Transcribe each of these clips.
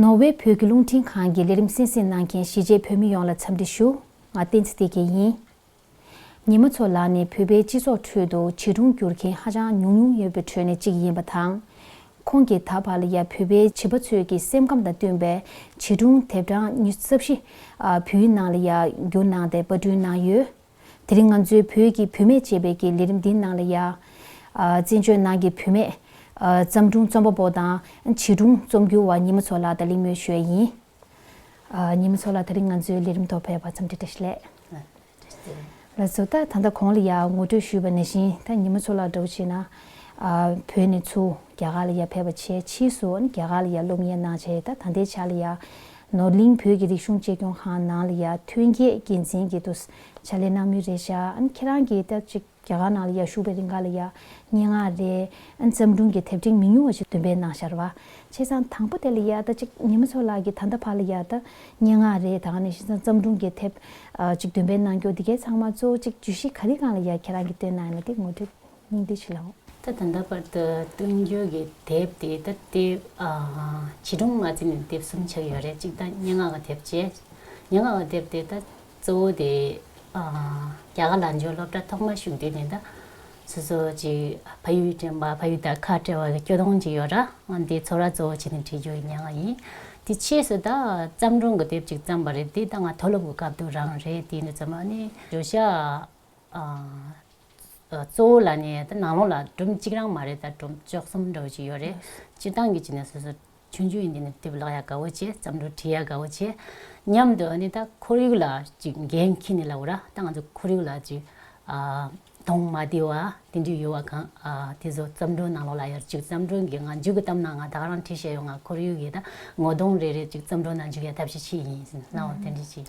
ནོར་ཝེ་བོད་ཀྱི་རླུང་འཕྲིན་ཁང་གི་ལས་རིམ་སྲིད་འཛིན་གནང་མཁན་གཞིས་བྱེས་བོད་མི་ཡོངས་ལ་འཚམས་འདྲི་ཞུ། ང་བསྟན་ཚེ་བདེ་སྐྱིད་ཡིན། ཉི་མ་མཚོ་ལགས་ནི་བོད་པའི་སྤྱི་ཚོགས་ཁྲོད་དུ་བྱིས་སྒྲུང་བསྒྱུར་མཁན་ཧ་ཅང་ཉུང་ཉུང་ཡོད་པའི་ཁྲོད་ནས་གཅིག་ཡིན་པ་དང། ཁོང་གིས་ད་བར་ལ་ཡ་བོད་པའི་བྱིས་པ་ཚོས་ཀྱི་སེམས་ཁམས་དང་བསྟུན་པའི་བྱིས་སྒྲུང་དེབ་གྲངས་ཉི་རྩ་བཞི། བོད་ཡིག་ནང་ལ་ཡ་བསྒྱུར་གནང་སྟེ་པར་སྐྲུན་གནང་ཡོད། དེ་རིང་ང་ཚོའི་བོད་ཀྱི་བུད་མེད་ཅེས་པའི་ཀྱི་ལི་རིམ་འདིའི་ནང་ལ་ཡ། བཙན་བྱོལ་ནང་གི་བུད་མེད། བརྩམས་སྒྲུང་རྩོམ་པ་པོ་དང། བྱིས་སྒྲུང་རྩོམ་སྒྱུར་བ་ཉི་མ་མཚོ་ལགས་དང་གླིང་མོའི་ཞོལ་ཡིན། ཉི་མ་མཚོ་ལགས་ད་རིང་ང་ཚོའི་ལི་རིམ་ཐོག་ཕེབས་པར་འཚམས་འདྲི་བཀྲ་ཤིས་ལེགས། ལ་བཟོ་ལྟ་ད་ལྟ་གོང་ལ་ཡ་ངོ་སྤྲོད་ཞུས་པ་ནས་བཞིན་ད་ཉི་མ་མཚོ་ལགས་འདྲ་བོ་བྱས་ན། བོད་ནས་ཚུར་རྒྱ་གར་ལ་ཡ་ཕེབས་པ་ཆེས་ཕྱིས་སུ་རྒྱ་གར་ལ་ཡ་སློབ་གཉེར་གནང་བྱས་ད་ད་ལྟའི་ཆ་ལ་ཡ། ནོར་གླིང་བོད་ཀྱི་རིག་གཞུང་གཅེས་སྐྱོང་ཁང་ནང་ལ་ཡར་ཐོན་རྒྱས་དགེ་མཚན་གྱི་དུ་བྱ་ལས་སྣང་མུས་རེད་ཤག་ཨན་ཁྱེད་རང་གིས་ལྟ་ཅིག་རྒྱ་གར་ནང་ལ་ཡར་བཞུགས་པའི་རིང་ག་ལ་ཡར་སྙན་ངག་རེད་ཨན་བརྩམས་སྒྲུང་གི་དེབ་ཕྲེང་མི་ཉུང་བ་ཞིག་འདོན་པའི་ནང་ཤར་བ་ཆེ་ཚང་དང་པོ་དེ་ལ་ཡར་ལྟ་ཅིག་ཉི་མ་མཚོ་ལགས་ཀྱིས་ད་ལྟ་བར་ལ་ཡར་ལྟ་སྙན་ངག་རེད་དང་ནས་ཤིན་ཚང་བརྩམས་སྒྲུང་གི་དེབ་ཅིག་འདོན་པའི་ནང་སྐྱོ་དེ་གས་ཚང་མ་གཙོ་བོ་ཅིག་བརྗོད་གཞི་ག་རི་གང་ལ་ཡར་ཁྱེད་རང་གིས་བཏོན་གནང་ཡོད་ན་དེ་ངོ་འཕྲོད། སྙིང་ཏིག་བྱིན་རླབས། ད་ད་ལྟ་བར་དུ་བསྟུན་བསྐྱོད་ཀྱི་དེབ་དེ་ད་ལྟའི་བྱིས་སྒྲུང་མ་ཚིག་ནི་དེབ་གསུམ་ཆགས་ཡོད་རེད་གཅིག་ད་སྙན་ངག་གི་དེབ་བཅས་སྙན་ངག་གི་དེབ་དེ་ད་གཙོ་བོ་དེ་རྒྱ་གར་ལང་འཇོག་སློབ་གྲྭ་ཐོག་མར་ཞུགས་དུས་ནས་ད་སོ་སོ་ཅིག་ཕ་ཡུལ་དྲན་པ་ཕ་ཡུལ་དང་ཁ་བྲལ་བ་སྐྱོ་གདུང་ཅིག་ཡོད་ར་དེའི་ཚོར་བ་གཙོ་བོ་བྱས་ནས་བྲིས་རྒྱུ་ཡི་སྙན་ངག་ཡིན། དེ་ཕྱིས་སུ་ད་བརྩམས་སྒྲུང་གི་དེབ་ཅིག་བརྩམས་པ་རེད་དེ་ད་ང་མཐོ་སློབ་ཀྱི་སྐབས་དུ་རང་རེད་དེ་ནས་བརྩམས་པ་ནི་བརྗོད་བྱ་གཙོ་བོ་ལ་ནི་ནང་ལོགས་ལ་སྒྲོམ་གཅིག་རང་མ་རེད་ད་སྒྲོམ་བཅོ་གསུམ་འདྲ་བོ་ཅིག་ཡོད་རེད། སྤྱིར་བཏང་གི་བྱས་ནས་སོ་སོ་ཆུང་ཆུང་ཡིན་དུས་ནས་དེབ་བཀླག་ཡ་དགའ་བོ་བྱེད་བརྩམས་སྒྲུང་བྲིས་ཡ་དགའ་བོ་བྱེད། མཉམ་དུ་ཨ་ནི་ད་ཁོར་ཡུག་ལ་ཅིག་འགན་འཁྱེར་ནས་ལབ་བོ་ར་ད་ང་ཚོ་ཁོར་ཡུག་ལ་ཅིག་དོང་མ་དེ་བ་དེ་འདྲས་ཡོད་བ་གང་དེ་ཚོ་བརྩམས་སྒྲུང་ནང་ལོགས་ལ་ཡར་བཅུག་བརྩམས་སྒྲུང་གི་ང་མཇུག་གི་གཏམ་ནང་ང་དག་རང་བྲིས་ཤེས་ཡོང་ང་ཁོར་ཡུག་གི་ད་ངོ་གདོང་རེ་རེ་ཅིག་བརྩམས་སྒྲུང་ནང་འཇུག་ཡ་ཐབས་ཤེས་ཆེད་ཡིན་ཟེར་ནའོ་དེ་འདྲས་ཅིག།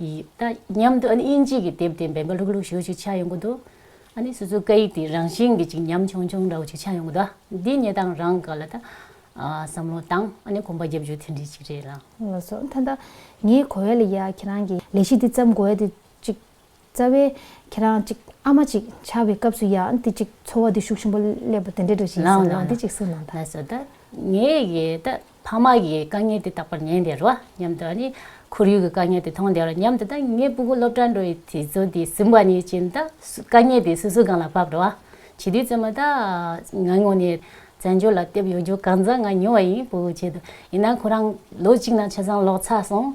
ཡིད། མཉམ་དུ་དབྱིན་ཇི་གི་དེབ་དེ་འབེན་པ་ལྷུག་ལྷུག་ཞུ་བཅུག་ཆ་ཡོང་གི་འདུག་སོ་སོའི་སྐད་ཡིག་དེ་རང་བཞིན་གྱི་ཅིག་ཉམས་ཆུང་ཆུང་འདྲ་བོ་ཅིག་ཆ་ཡོང་གི་འདུག་འདི་ཉེ་དང་རང་དགའ་ལ་ད། བསམ་བློ་བཏང་གོམ་པ་བརྒྱབ་རྒྱུ་དེ་འདྲི་ཅིག་རེད་ལ། ལོ་སོ། ད་ངས་གོ་བས་ལ་ཡ་ཁྱེད་རང་གི་ལས་གཞི་འདི་བརྩམས་གོ་བས་དེ་ཅིག། རྩ་བའི། ཁྱེད་རང་གཅིག་ཨ་མ་གཅིག་ཆགས་པའི་སྐབས་སུ་ཡང་དེ་གཅིག་འཚོ་བ་བདེ་ཤུགས་ཆེན་པོ་སླེབས་པ་དེ་འདྲའི་འགྲོ་བཞིན་སོང་ངོ་དེ་གཅིག་སུན་སྣང་དང། ངས་ཡི་དྭགས་ཕ་མ་གི་དཀའ་ངལ་དེ་རྟག་པར་ཉན་བདེ་རོ་སྙམ་དུ་ནི་ཁོར་ཡུག་གི་དཀའ་ངལ་དེ་མཐོང་བདེ་རོ་སྙམ་དུ་དང་ངའི་སྤུ་གུ་སློབ་གྲྭར་འགྲོ་བའི་དུས་ཚོད་དེ་ཟིན་པ་ནི་བྱིན་དང་དཀའ་ངལ་དེ་སུ་སུ་གང་ལ་བབས་རོ། བྱིས་དུས་བཙས་མ་ཐག་ང་ངོ་ནས་བཙན་བྱོལ་ལ་བསྡད་ཡོད་རྒྱུ་གང་མཚམས་ང་ཉོ་བ་ཡིན་སྤུ་གུ་བྱེད་དུ་ཡིན་ན་ཁོ་རང་ལོ་གཅིག་ནང་ཆ་ཚང་ལོག་ཚར་སོང།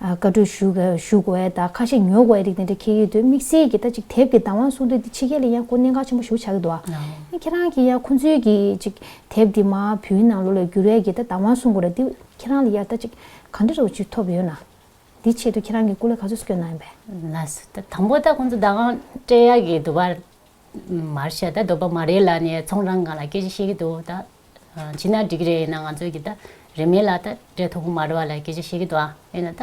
བཀའ་གྲོས་ཞུ་དགོས་བས་ད་ཁ་ཞེ་ཉོ་དགོས་བས་རིགས་དེ་འདྲ་ཁྱེད་ཡོད་དུས་དམིགས་བསལ་གྱིས་ད་ཅིག་དེབ་ཀྱི་བདག་དབང་གསུང་དུས་འདི་ཕྱི་རྒྱལ་ལ་ཡང་ཁོ་གནད་འགག་ཆེན་པོ་ཞུ་ཆགས་ཀྱི་འདུག་བ། ཡིན་ཁྱེད་རང་གིས་ཡང་ཁོ་ཚོའི་གི་ཅིག་དེབ་འདི་མ་བུའི་ནང་ལོ་ལོ་བསྒྱུར་བས་གི་ད་བདག་དབང་གསུང་དགོས་ར་འདི་ཁྱེད་རང་ལ་ཡར་ད་ཅིག་གང་འདྲ་རེ་བ་ཅིག་ཐོབ་ཡོད་ན། འདི་ཆེད་དུ་ཁྱེད་རང་གི་སྐུ་ལས་ག་ཚོད་སུ་སྐྱོན་གནང་ཡོད་པས། ན་སོ་ད་དང་པོ་ད་ཁོ་ཚོ་བདག་དབང་སྤྲད་ཡག་གི་འདུག་བ། མར་ཤ་ད་འདོད་པ་མ་རེད་ལ་ནས་ཚོང་རང་གང་ལ་སྐད་ཅིག་བཤད་གི་འདུག་བ་ད། བྱིན་ན་འགྲིག་གི་རེད་ཡིན་ན་ང་ཚོས་ཀྱི་ད་རེ་མེད་ལ་ད་རེ་ཐོག་མར་བ་ལ་སྐད་ཆ་བཤད་ཀྱི་འདུག་ཨ་ཡིན་ན་ད་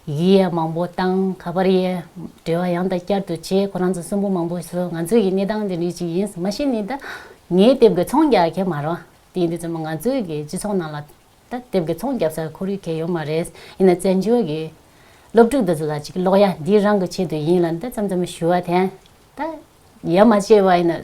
ཡིད་ཡ་མང་པོ་བཏང་ཁ་པར་ཡའི་འབྲེལ་བ་ཡང་དང་བསྐྱར་དུ་བྱས་ཁོ་རང་ཚོ་གསོན་པོ་མང་པོ་བྱོས་ང་ཚོས་ཀྱི་གནས་སྟངས་དེ་རིགས་ཅིག་ཡིན་མ་གཞི་ནས་ད་ངའི་སྟེབས་དགེ་ཚོང་རྒྱག་མཁན་མ་རང་དེ་ཡིན་དུས་ཚོད་མ་ང་ཚོས་ཀྱི་སྤྱི་ཚོགས་ནང་ལ་ད་སྟེབས་དགེ་ཚོང་རྒྱབ་སར་ཁོར་ཡུག་གལ་ཡོད་མ་རེད་ཡིན་ན་བཙན་བྱོལ་གྱི་སློབ་ཕྲུག་འདི་ཚོ་ལ་ཅིག་ཀློག་ཡ་འདི་རང་གི་ཆེད་དུ་ཡིན་ལ་ད་ཙམ་ཙམ་ཞུ་བ་དེ་ད་ཡ་མ་བྱས་པ་ཡིན་ན།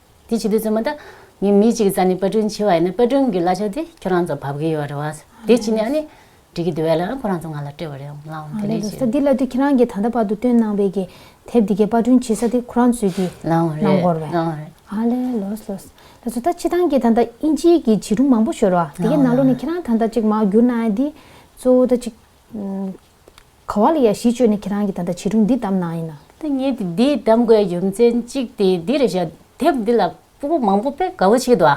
དེ་བྱེད་དུས་ཚོད་མ་འདའ། ངས་མི་གཅིག་རྩ་ནས་པར་སྐྲུན་བྱས་བ་ཡིན་ན་པར་སྐྲུན་གྱི་གླ་ཆ་དེ་ཁྱོད་རང་ཚོར་བབས་ཀྱི་ཡོད་རེད་བ། དེ་བྱས་ནས་ཨ་ནི། འགྲིག་གི་འདུག་བས་ལ་ཁོ་རང་ཚོ་ང་ལ་སྤྲད་པ་རེད་བ། ལའང་དེ་ལས་ཀྱི། ས་འདི་གླ་དུས་ཁྱེད་རང་གིས་ད་ལྟ་བར་དུ་བཏོན་གནང་བའི་གི་དེབ་འདི་གའི་པར་སྐྲུན་བྱེད་ས་དེ་ཁོ་རང་ཚོས་གིས། ལའང་རེད། གནང་གོར་བས། ལའང་རེད། ཨ་ལེ་ལོས་ལོས། ལ་ཚོ་ད་ཕྱི་ཐང་གི་ད་ལྟ་ཨིན་ཇིའི་གི་བྱིས་སྒྲུང་མང་པོ་ཤོར་བ། དེ་གའི་ནང་ལོ་ནས་ཁྱེད་རང་ད་ལྟ་གཅིག་མ་བསྒྱུར་ན་ཨ་འདི། གཙོ་བོ་ད་གཅིག། ག་བ་ལ་ཡ་གཞི་བཅོལ་ནས་ཁྱེད་རང་གིས་ད་ལྟ་བྱིས་སྒྲུང་འདི་གདམ་ནའང་ཡིན། ཐ་སྙད་འདི་གདམ་དགོས་རྒྱུ་མཚན་གཅིག་དེ་འདི་རེད་བཞག་དེབ་འདི་ལ་པུ་པོ་མང་པོ་དཔེ་དགའ་བོ་བྱེད་འདུག་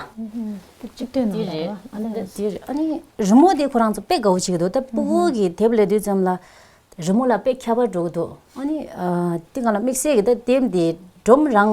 དེབ་གཅིག་སྟོད་ནང་དང་ཨ་ནེ་རེད། དེ་རེད་ཨ་ནེ་རི་མོ་དེ་ཁོ་རང་ཚོ་དཔེ་དགའ་བོ་བྱེད་འདུག་ད་པུ་བོ་གི་དེབ་ལས་དུས་ཙམ་ལ་རི་མོ་ལ་དཔེ་ཁྱད་པར་འགྲོ་གི་འདུག་ཨ་ནེ་དེ་ག་ལ་དམིགས་བསལ་གྱི་ད་དེབ་འདི་སྒྲོམ་རང་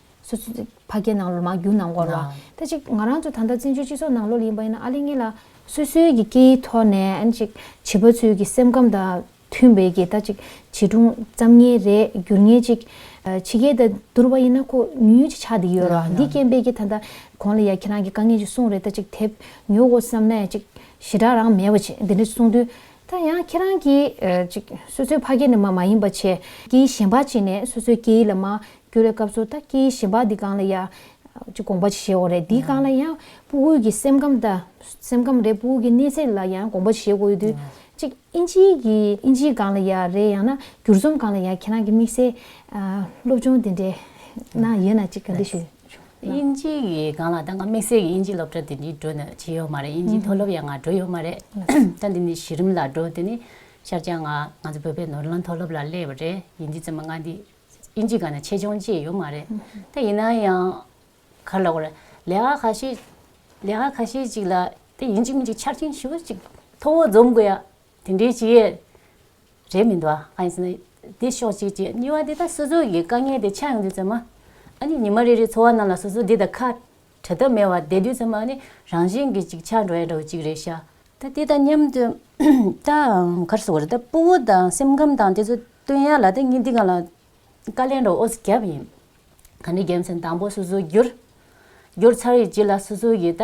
སོ་སོ་ཚིག་ཕ་སྐད་ནང་ལོ་མ་རྒྱུན་ནང་སྐོར་ལ། ད་ཅིག་ང་རང་ཚོ་ད་ལྟ་བཙན་བྱོལ་སྤྱི་ཚོགས་ནང་ལོ་ལ་ཡིན་པ་ཡིན་ན་ཨ་ལེ་ངེད་ལ། སོ་སོའི་གི་སྐད་ཡིག་ཐོག་ནས་ཨ་ནི་ཅིག་བྱིས་པ་ཚོའི་གི་སེམས་ཁམས་དང་མཐུན་པའི་གི་ད་ཅིག་བྱིས་སྒྲུང་བརྩམ་ངེས་རེད་བསྒྱུར་ངེས་ཅིག། ཕྱི་རྒྱལ་དང་བསྡུར་བ་ཡིན་ན་ཁོ་ཉུང་ཉུང་ཅིག་ཆགས་བསྡད་ཡོད་རོ། འདི་རྐྱེན་པས་གི་ད་ལྟ་གོང་ལ་ཡ་ཁྱེད་རང་གི་དཀའ་ངལ་ཅིག་གསུངས་རེད་ད་ཅིག་དེབ་ཉོ་དགོ་བསམ་ན་ཡ་ཅིག་ཞེ་དྲག་རང་མེད་པ་ཅིག་འདི་འདྲ་གསུངས་དུས། ད་ཡང་ཁྱེད་རང་གི་ཅིག་སོ་སོའི་ཕ་སྐད་ནས་མ་མ་ཡིན་པ་ཆེ་སྐད་ཡིག་གཞན་པ་ཅིག་ནས་སོ་སོའི་སྐད་ཡིག་ལ་མ་སྐྱུར་རའི་སྐབས་སུ་ད་ཀྱི་ཞིམ་པ་འདི་གང་ལ་ཡ། ཅེས་དགོངས་པ་བཞེས་འོ་རེད་འདི་གང་ལ་ཡང་སྤུ་གུ་གི་སེམས་ཁམས་ད། སེམས་ཁམས་རེད་སྤུ་གུ་གི་གནས་ཚད་ལ་ཡང་དགོངས་པ་བཞེས་དགོས་ཡོད་དུས། ཅེས་ཨིན་ཇི་གི་ཨིན་ཇི་གང་ལ་ཡ་རེད་ཡང་ན་འགྱུར་རྩོམ་གང་ལ་ཡ་ཁྱེད་རང་གི་དམིགས་བསལ། སློབ་སྦྱོང་དེ་འདྲའི་ནང་ཡོད་ན་ཅིག་ག་འདྲི་ཞུ། ཨིན་ཇི་གི་གང་ལ་ད་ང་དམིགས་བསལ་གི་ཨིན་ཇི་སློབ་གྲྭ་དེ་འདྲི་འགྲོ་ན་བྱེད་ཡོད་མ་རེད་ཨིན་ཇི་མཐོ་སློབ་ཡང་ང་འགྲོ་ཡོད་མ་རེད་ད་འདི་ནི་གཞི་རིམ་ལ་འགྲོ་དེ་ནི་ཤར་བྱང་ང་ང་ཚོ་བོད་པའི་ནོར་ལང་མཐོ་སློབ་ལ་སླེབས་པ་རེད་ཨིན་ཇི་རྩོམ་པ་ང་འདི་ཨིན་ཇི་ག་ན་ཆེད་སྦྱོང་བཅས་ཡོད་མ་རེད། ད་ཡིན་ན་ཡང། གར་ལ་བར། ལས་ཀ་ཁ་ཤས། ལས་ཀ་ཁ་ཤས་ཅིག་ལ། དེ་ཡིན་ཅིག་མིན་ཅིག་ཆར་ཆེན་ཞིབ་ཅིག་ཐོ་བོ་འཛོམས་དགོས་ཡ། དེ་འདྲའི་ཅི་ཡས། རེད་མི་འདུག་ཨ། ཡིན་ཟེར་ན། དེ་ཤོག་ཅིག་ཅེས་གཉིས་བ་དེ་ད་སོ་སོ་གིས་དཀའ་ངལ་དེ་ཆགས་ཡོང་དུས་ཚོད་མ། ཨ་ནི་ཉི་མ་རེ་རེའི་འཚོ་བ་རྣམས་ལ་སོ་སོ་འདི་དང་ཁ། བྲལ་ཐབས་མེད་བ་དེ་དུས་ཚོད་མ་ནི་རང་བཞིན་གྱིས་ཅིག་ཆར་འགྲོ་ཡ་འགྲོ་ཅིག་རེད་ཤག། ད་དེ་དང་མཉམ་དུ། ད་གར་སོང་རེད་ད་སྤོ་བོ་དང་སེམས་ཁམས་དང་དེ་ཚོ་སྟོན་ཡ་ལ་ད་ངས་འདི་ག་ལ་བཀའ་ལན་རོགས་ཨོ་རྒྱབ་ཡིན། ག་འདི་རྒྱལ་མཚན་དང་པོ་སོ་སོའི་རྒྱུར། རྒྱུར་ཚར་ཡིན་ཅི་ལ་སོ་སོ་ཡིས་ད།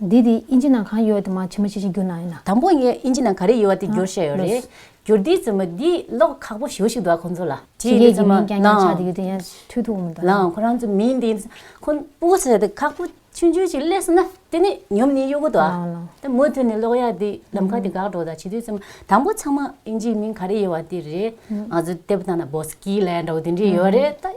འདི་དེའི་དབྱིན་ཇི་ནང་གང་ཡོད་དེ་མ་ཕྱི་མ་ཕྱི་བཞིན་བསྒྱུར་གནང་ཡོད་ན། དང་པོ་ངས་དབྱིན་ཇི་ནང་ག་རེ་ཡོད་བ་དེ་བསྒྱུར་བཤད་ཡོད་རེད། ལོས། བསྒྱུར་དེའི་རྩོམ་པ་འདི་ཀློག་ཁག་པོ་ཞེ་བོ་ཞིག་འདུག་ཨ་ཁོང་ཚོ་ལ། ཕྱི་རྒྱལ་གྱི་མིང་ཀྱང་ཀྱང་ཆགས་འདི་ཡོད་དེ་ཡང་འཐུས་ཐུག་མི་འདུག་ཨ། ལའང་ཁོ་རང་ཚོའི་མིང་འདི། ཁོ། པོ་ཟེར་དེ་ཁག་པོ་ཆུང་ཆུང་ཞིག་སླེབས་སོང་ན་དེ་ནི་ཉོབ་ནི་གཡོ་གུ་འདུག་ཨ། ལའང་ལའང། དེ་མུ་མཐུད་ནས་ཀློག་ཡག་འདི་ལམ་ཁ་དེ་འགག་འགྲོ་ད་བྱེད་དུས་རྩོམ་དང་པོ་ཚང་མ་དབྱིན་ཇིའི་མིང་ག་རེ་ཡོད་བ་དེ་རེད། ང་ཚོ་དེབ་དང་ན་བོ་སི་ཀི་ལན་འདྲ་བོ་དེ་འདྲས་ཡོད་རེད་ད།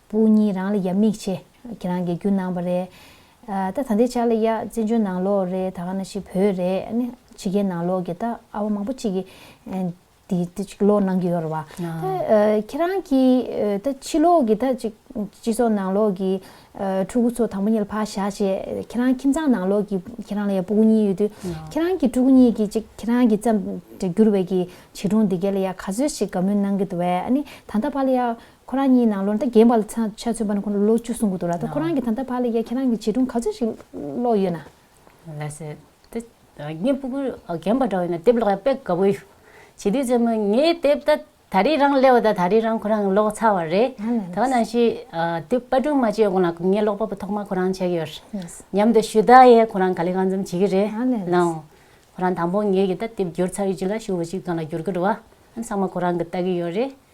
པུ་གཉིས་རང་ལ་ཡབ་མིག་ཆེ། ཁྱེད་རང་གི་རྒྱུ་ནང་པ་རེད། ད་ད་འདི་ཆ་ལ་ཡ་བཙན་བྱོལ་ནང་ལོག་རེད་ད་ག་ན་ཞིག་བོད་རེད་ནི་ཕྱི་རྒྱལ་ནང་ལོག་གི་ད་ཨ་བ་མང་པོ་ཅིག་གི་དེ་ཅིག་ལོག་གནང་གི་ཡོད་ར་བ། ད་ཁྱེད་རང་གི་ད་ཕྱི་ལོག་གི་ད་ཅིག་སྤྱི་ཚོགས་ནང་ལོག་གི་ཕྲུ་གུ་ཚོ་དང་པོ་གཉིས་ལ་ཕ་བཞག་བྱས་ཁྱེད་རང་ཁྱིམ་ཚང་ནང་ལོག་གི་ཁྱེད་རང་ལ་ཡ་པུ་གཉིས་ཡོད་དུས་ཁྱེད་རང་གི་ཕྲུ་གུ་གཉིས་ཀྱི་ཅིག་ཁྱེད་རང་གི་བརྩམས་བསྒྱུར་བའི་གི་བྱིས་སྒྲུང་འདི་ག་ལ་ཡ་ག་ཚོད་ཞིག་དགའ་མོས་གནང་གི་འདུག་བས་ཨ་ནི་ད་ད་པ་ལ་ཡ་ཁོ་རང་གཉིས་ནང་ལོ་ཟླ་རྒན་པ་ལ་ཆ་མཚོན་པ་ནི་ཁོ་ལ་ལོ་བཅུ་སོང་གི་འདུག་ལ་ད་ཁོ་རང་གིས་ད་ལྟ་བར་ལ་ཡ་ཁྱེད་རང་གིས་བྱིས་སྒྲུང་ག་ཚོད་ཞིག་ཀློག་ཡོད་ན། ལགས་སོ། དེ་ངའི་སྤུ་གུ་རྒན་པ་འདྲ་བས་ན་དེབ་ཀློག་ཡ་དཔེ་དགའ་པོ་ཡོད། བྱིས་དུས་ཚོད་མོ་ངའི་དེབ་ད་ད་རེས་རང་ཀླེའོ་ད་ད་རེས་རང་ཁོ་རང་གིས་ཀློག་ཚར་བ་རེད། ད་ནང་བཞིན་དེབ་དཔར་སྒྲུང་མ་བཅོས་གོང་ལ་ངས་ཀློག་པ་པོ་ཐོག་མ་ཁོ་རང་བྱས་ཀྱི་ཡོད། མཉམ་དུ་ཞུ་དག་ཡས་ཁོ་རང་ག་ལེ་གང་འཛོམས་བྱེད་ཀྱི་རེད། ལའང། ཁོ་རང་དང་པོ་ངའི་གིས་ད་དེབ་བསྒྱུར་ཚར་ཡོད་ཅིག་ལ་ཞུ་བོ་ཅིག་གང་ལ་བསྒྱུར་གི་འགྲོ་བ། ཨང་གསང་མ་ཁོ་རང་གིས་བལྟ་གི་ཡོད་རེད།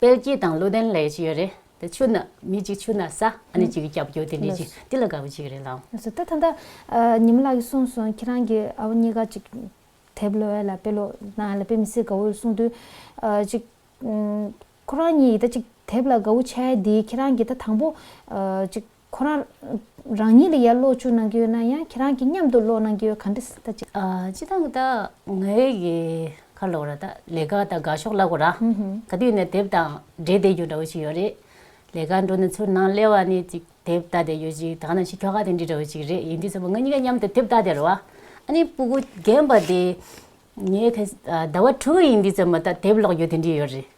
དཔལ་སྐྱིད་དང་ཀླུ་ལྡན་ལས་ཅི་ཡོད་རེད། དེ་ཆུ་ནག་མི་གཅིག་ཆུ་ནག་ས་གནས་གཅིག་གི་སྐྱབས་བཅོལ་དེ་འདྲས་ཅིག་འདི་ལ་དགའ་བོ་ཅིག་རེད་ལགས། ད་ད་ད། ཉི་མ་ལགས་ཀྱིས་གསུངས་སོང་ཁྱེད་རང་གི་ཨ་བ་གཉིས་ཀ་ཅིག་དེབ་ལོ་ཨེ་ལ་དཔེ་ལོ་ན་ཨེ་ལ་དཔེ་མི་སྲིད་དགའ་བོ་ཡོད་གསུངས་དུས། ཅིག། ཁོ་རང་གཉིས་ཡི་ད་ཅིག་དེབ་ལ་དགའ་བོ་ཆེ་ཨེ་འདི་ཁྱེད་རང་གིས་ད་དང་པོ། ཅིག། ཁོ་རང། རང་ཉིད་ལ་ཡར་ཀློག་བཅུག་གནང་གི་ཡོད་ན་ཡང་ཁྱེད་རང་གིས་མཉམ་དུ་ཀློག་གནང་གི་ཡོད་ག་འདྲི་ཟེར་ད་ཅི། སྤྱི་དང་གདའ། ངའི་ཡི། ཁར་ལོག་ར་ད། ལས་ཀ་ད་དགའ་ཤོག་ལ་གོ་ར། ག་དུས་ནས་དེབ་དང་འབྲེལ་བསྡད་རྒྱུ་འདྲ་བོ་ཞིག་ཡོད་རེད། ལས་ཀ་འགྲོ་ནས་ཚུར་ནང་སླེ་བ་ནས་ཅིག་དེབ་ལྟ་བསྡད་ཡོད་ཅིག་ད་ནང་ཤི་ཁྱོ་ག་དེ་འདྲི་འདྲ་བོ་ཞིག་རེད་ཡིན་དུས་ས་བོ་ང་གཉིས་ཀ་མཉམ་དུ་དེབ་ལྟ་བསྡད་རོ་ཨ། ཨ་ནི་སྤུ་གུ་རྒན་པ་དེ། ངའི་ཕས། ཟླ་བ་དྲུག་ཡིན་དུས་ཙམ་མ་ད་དེབ་ཀློག་རྒྱུ་དེ་འདྲི་ཡོད་རེད།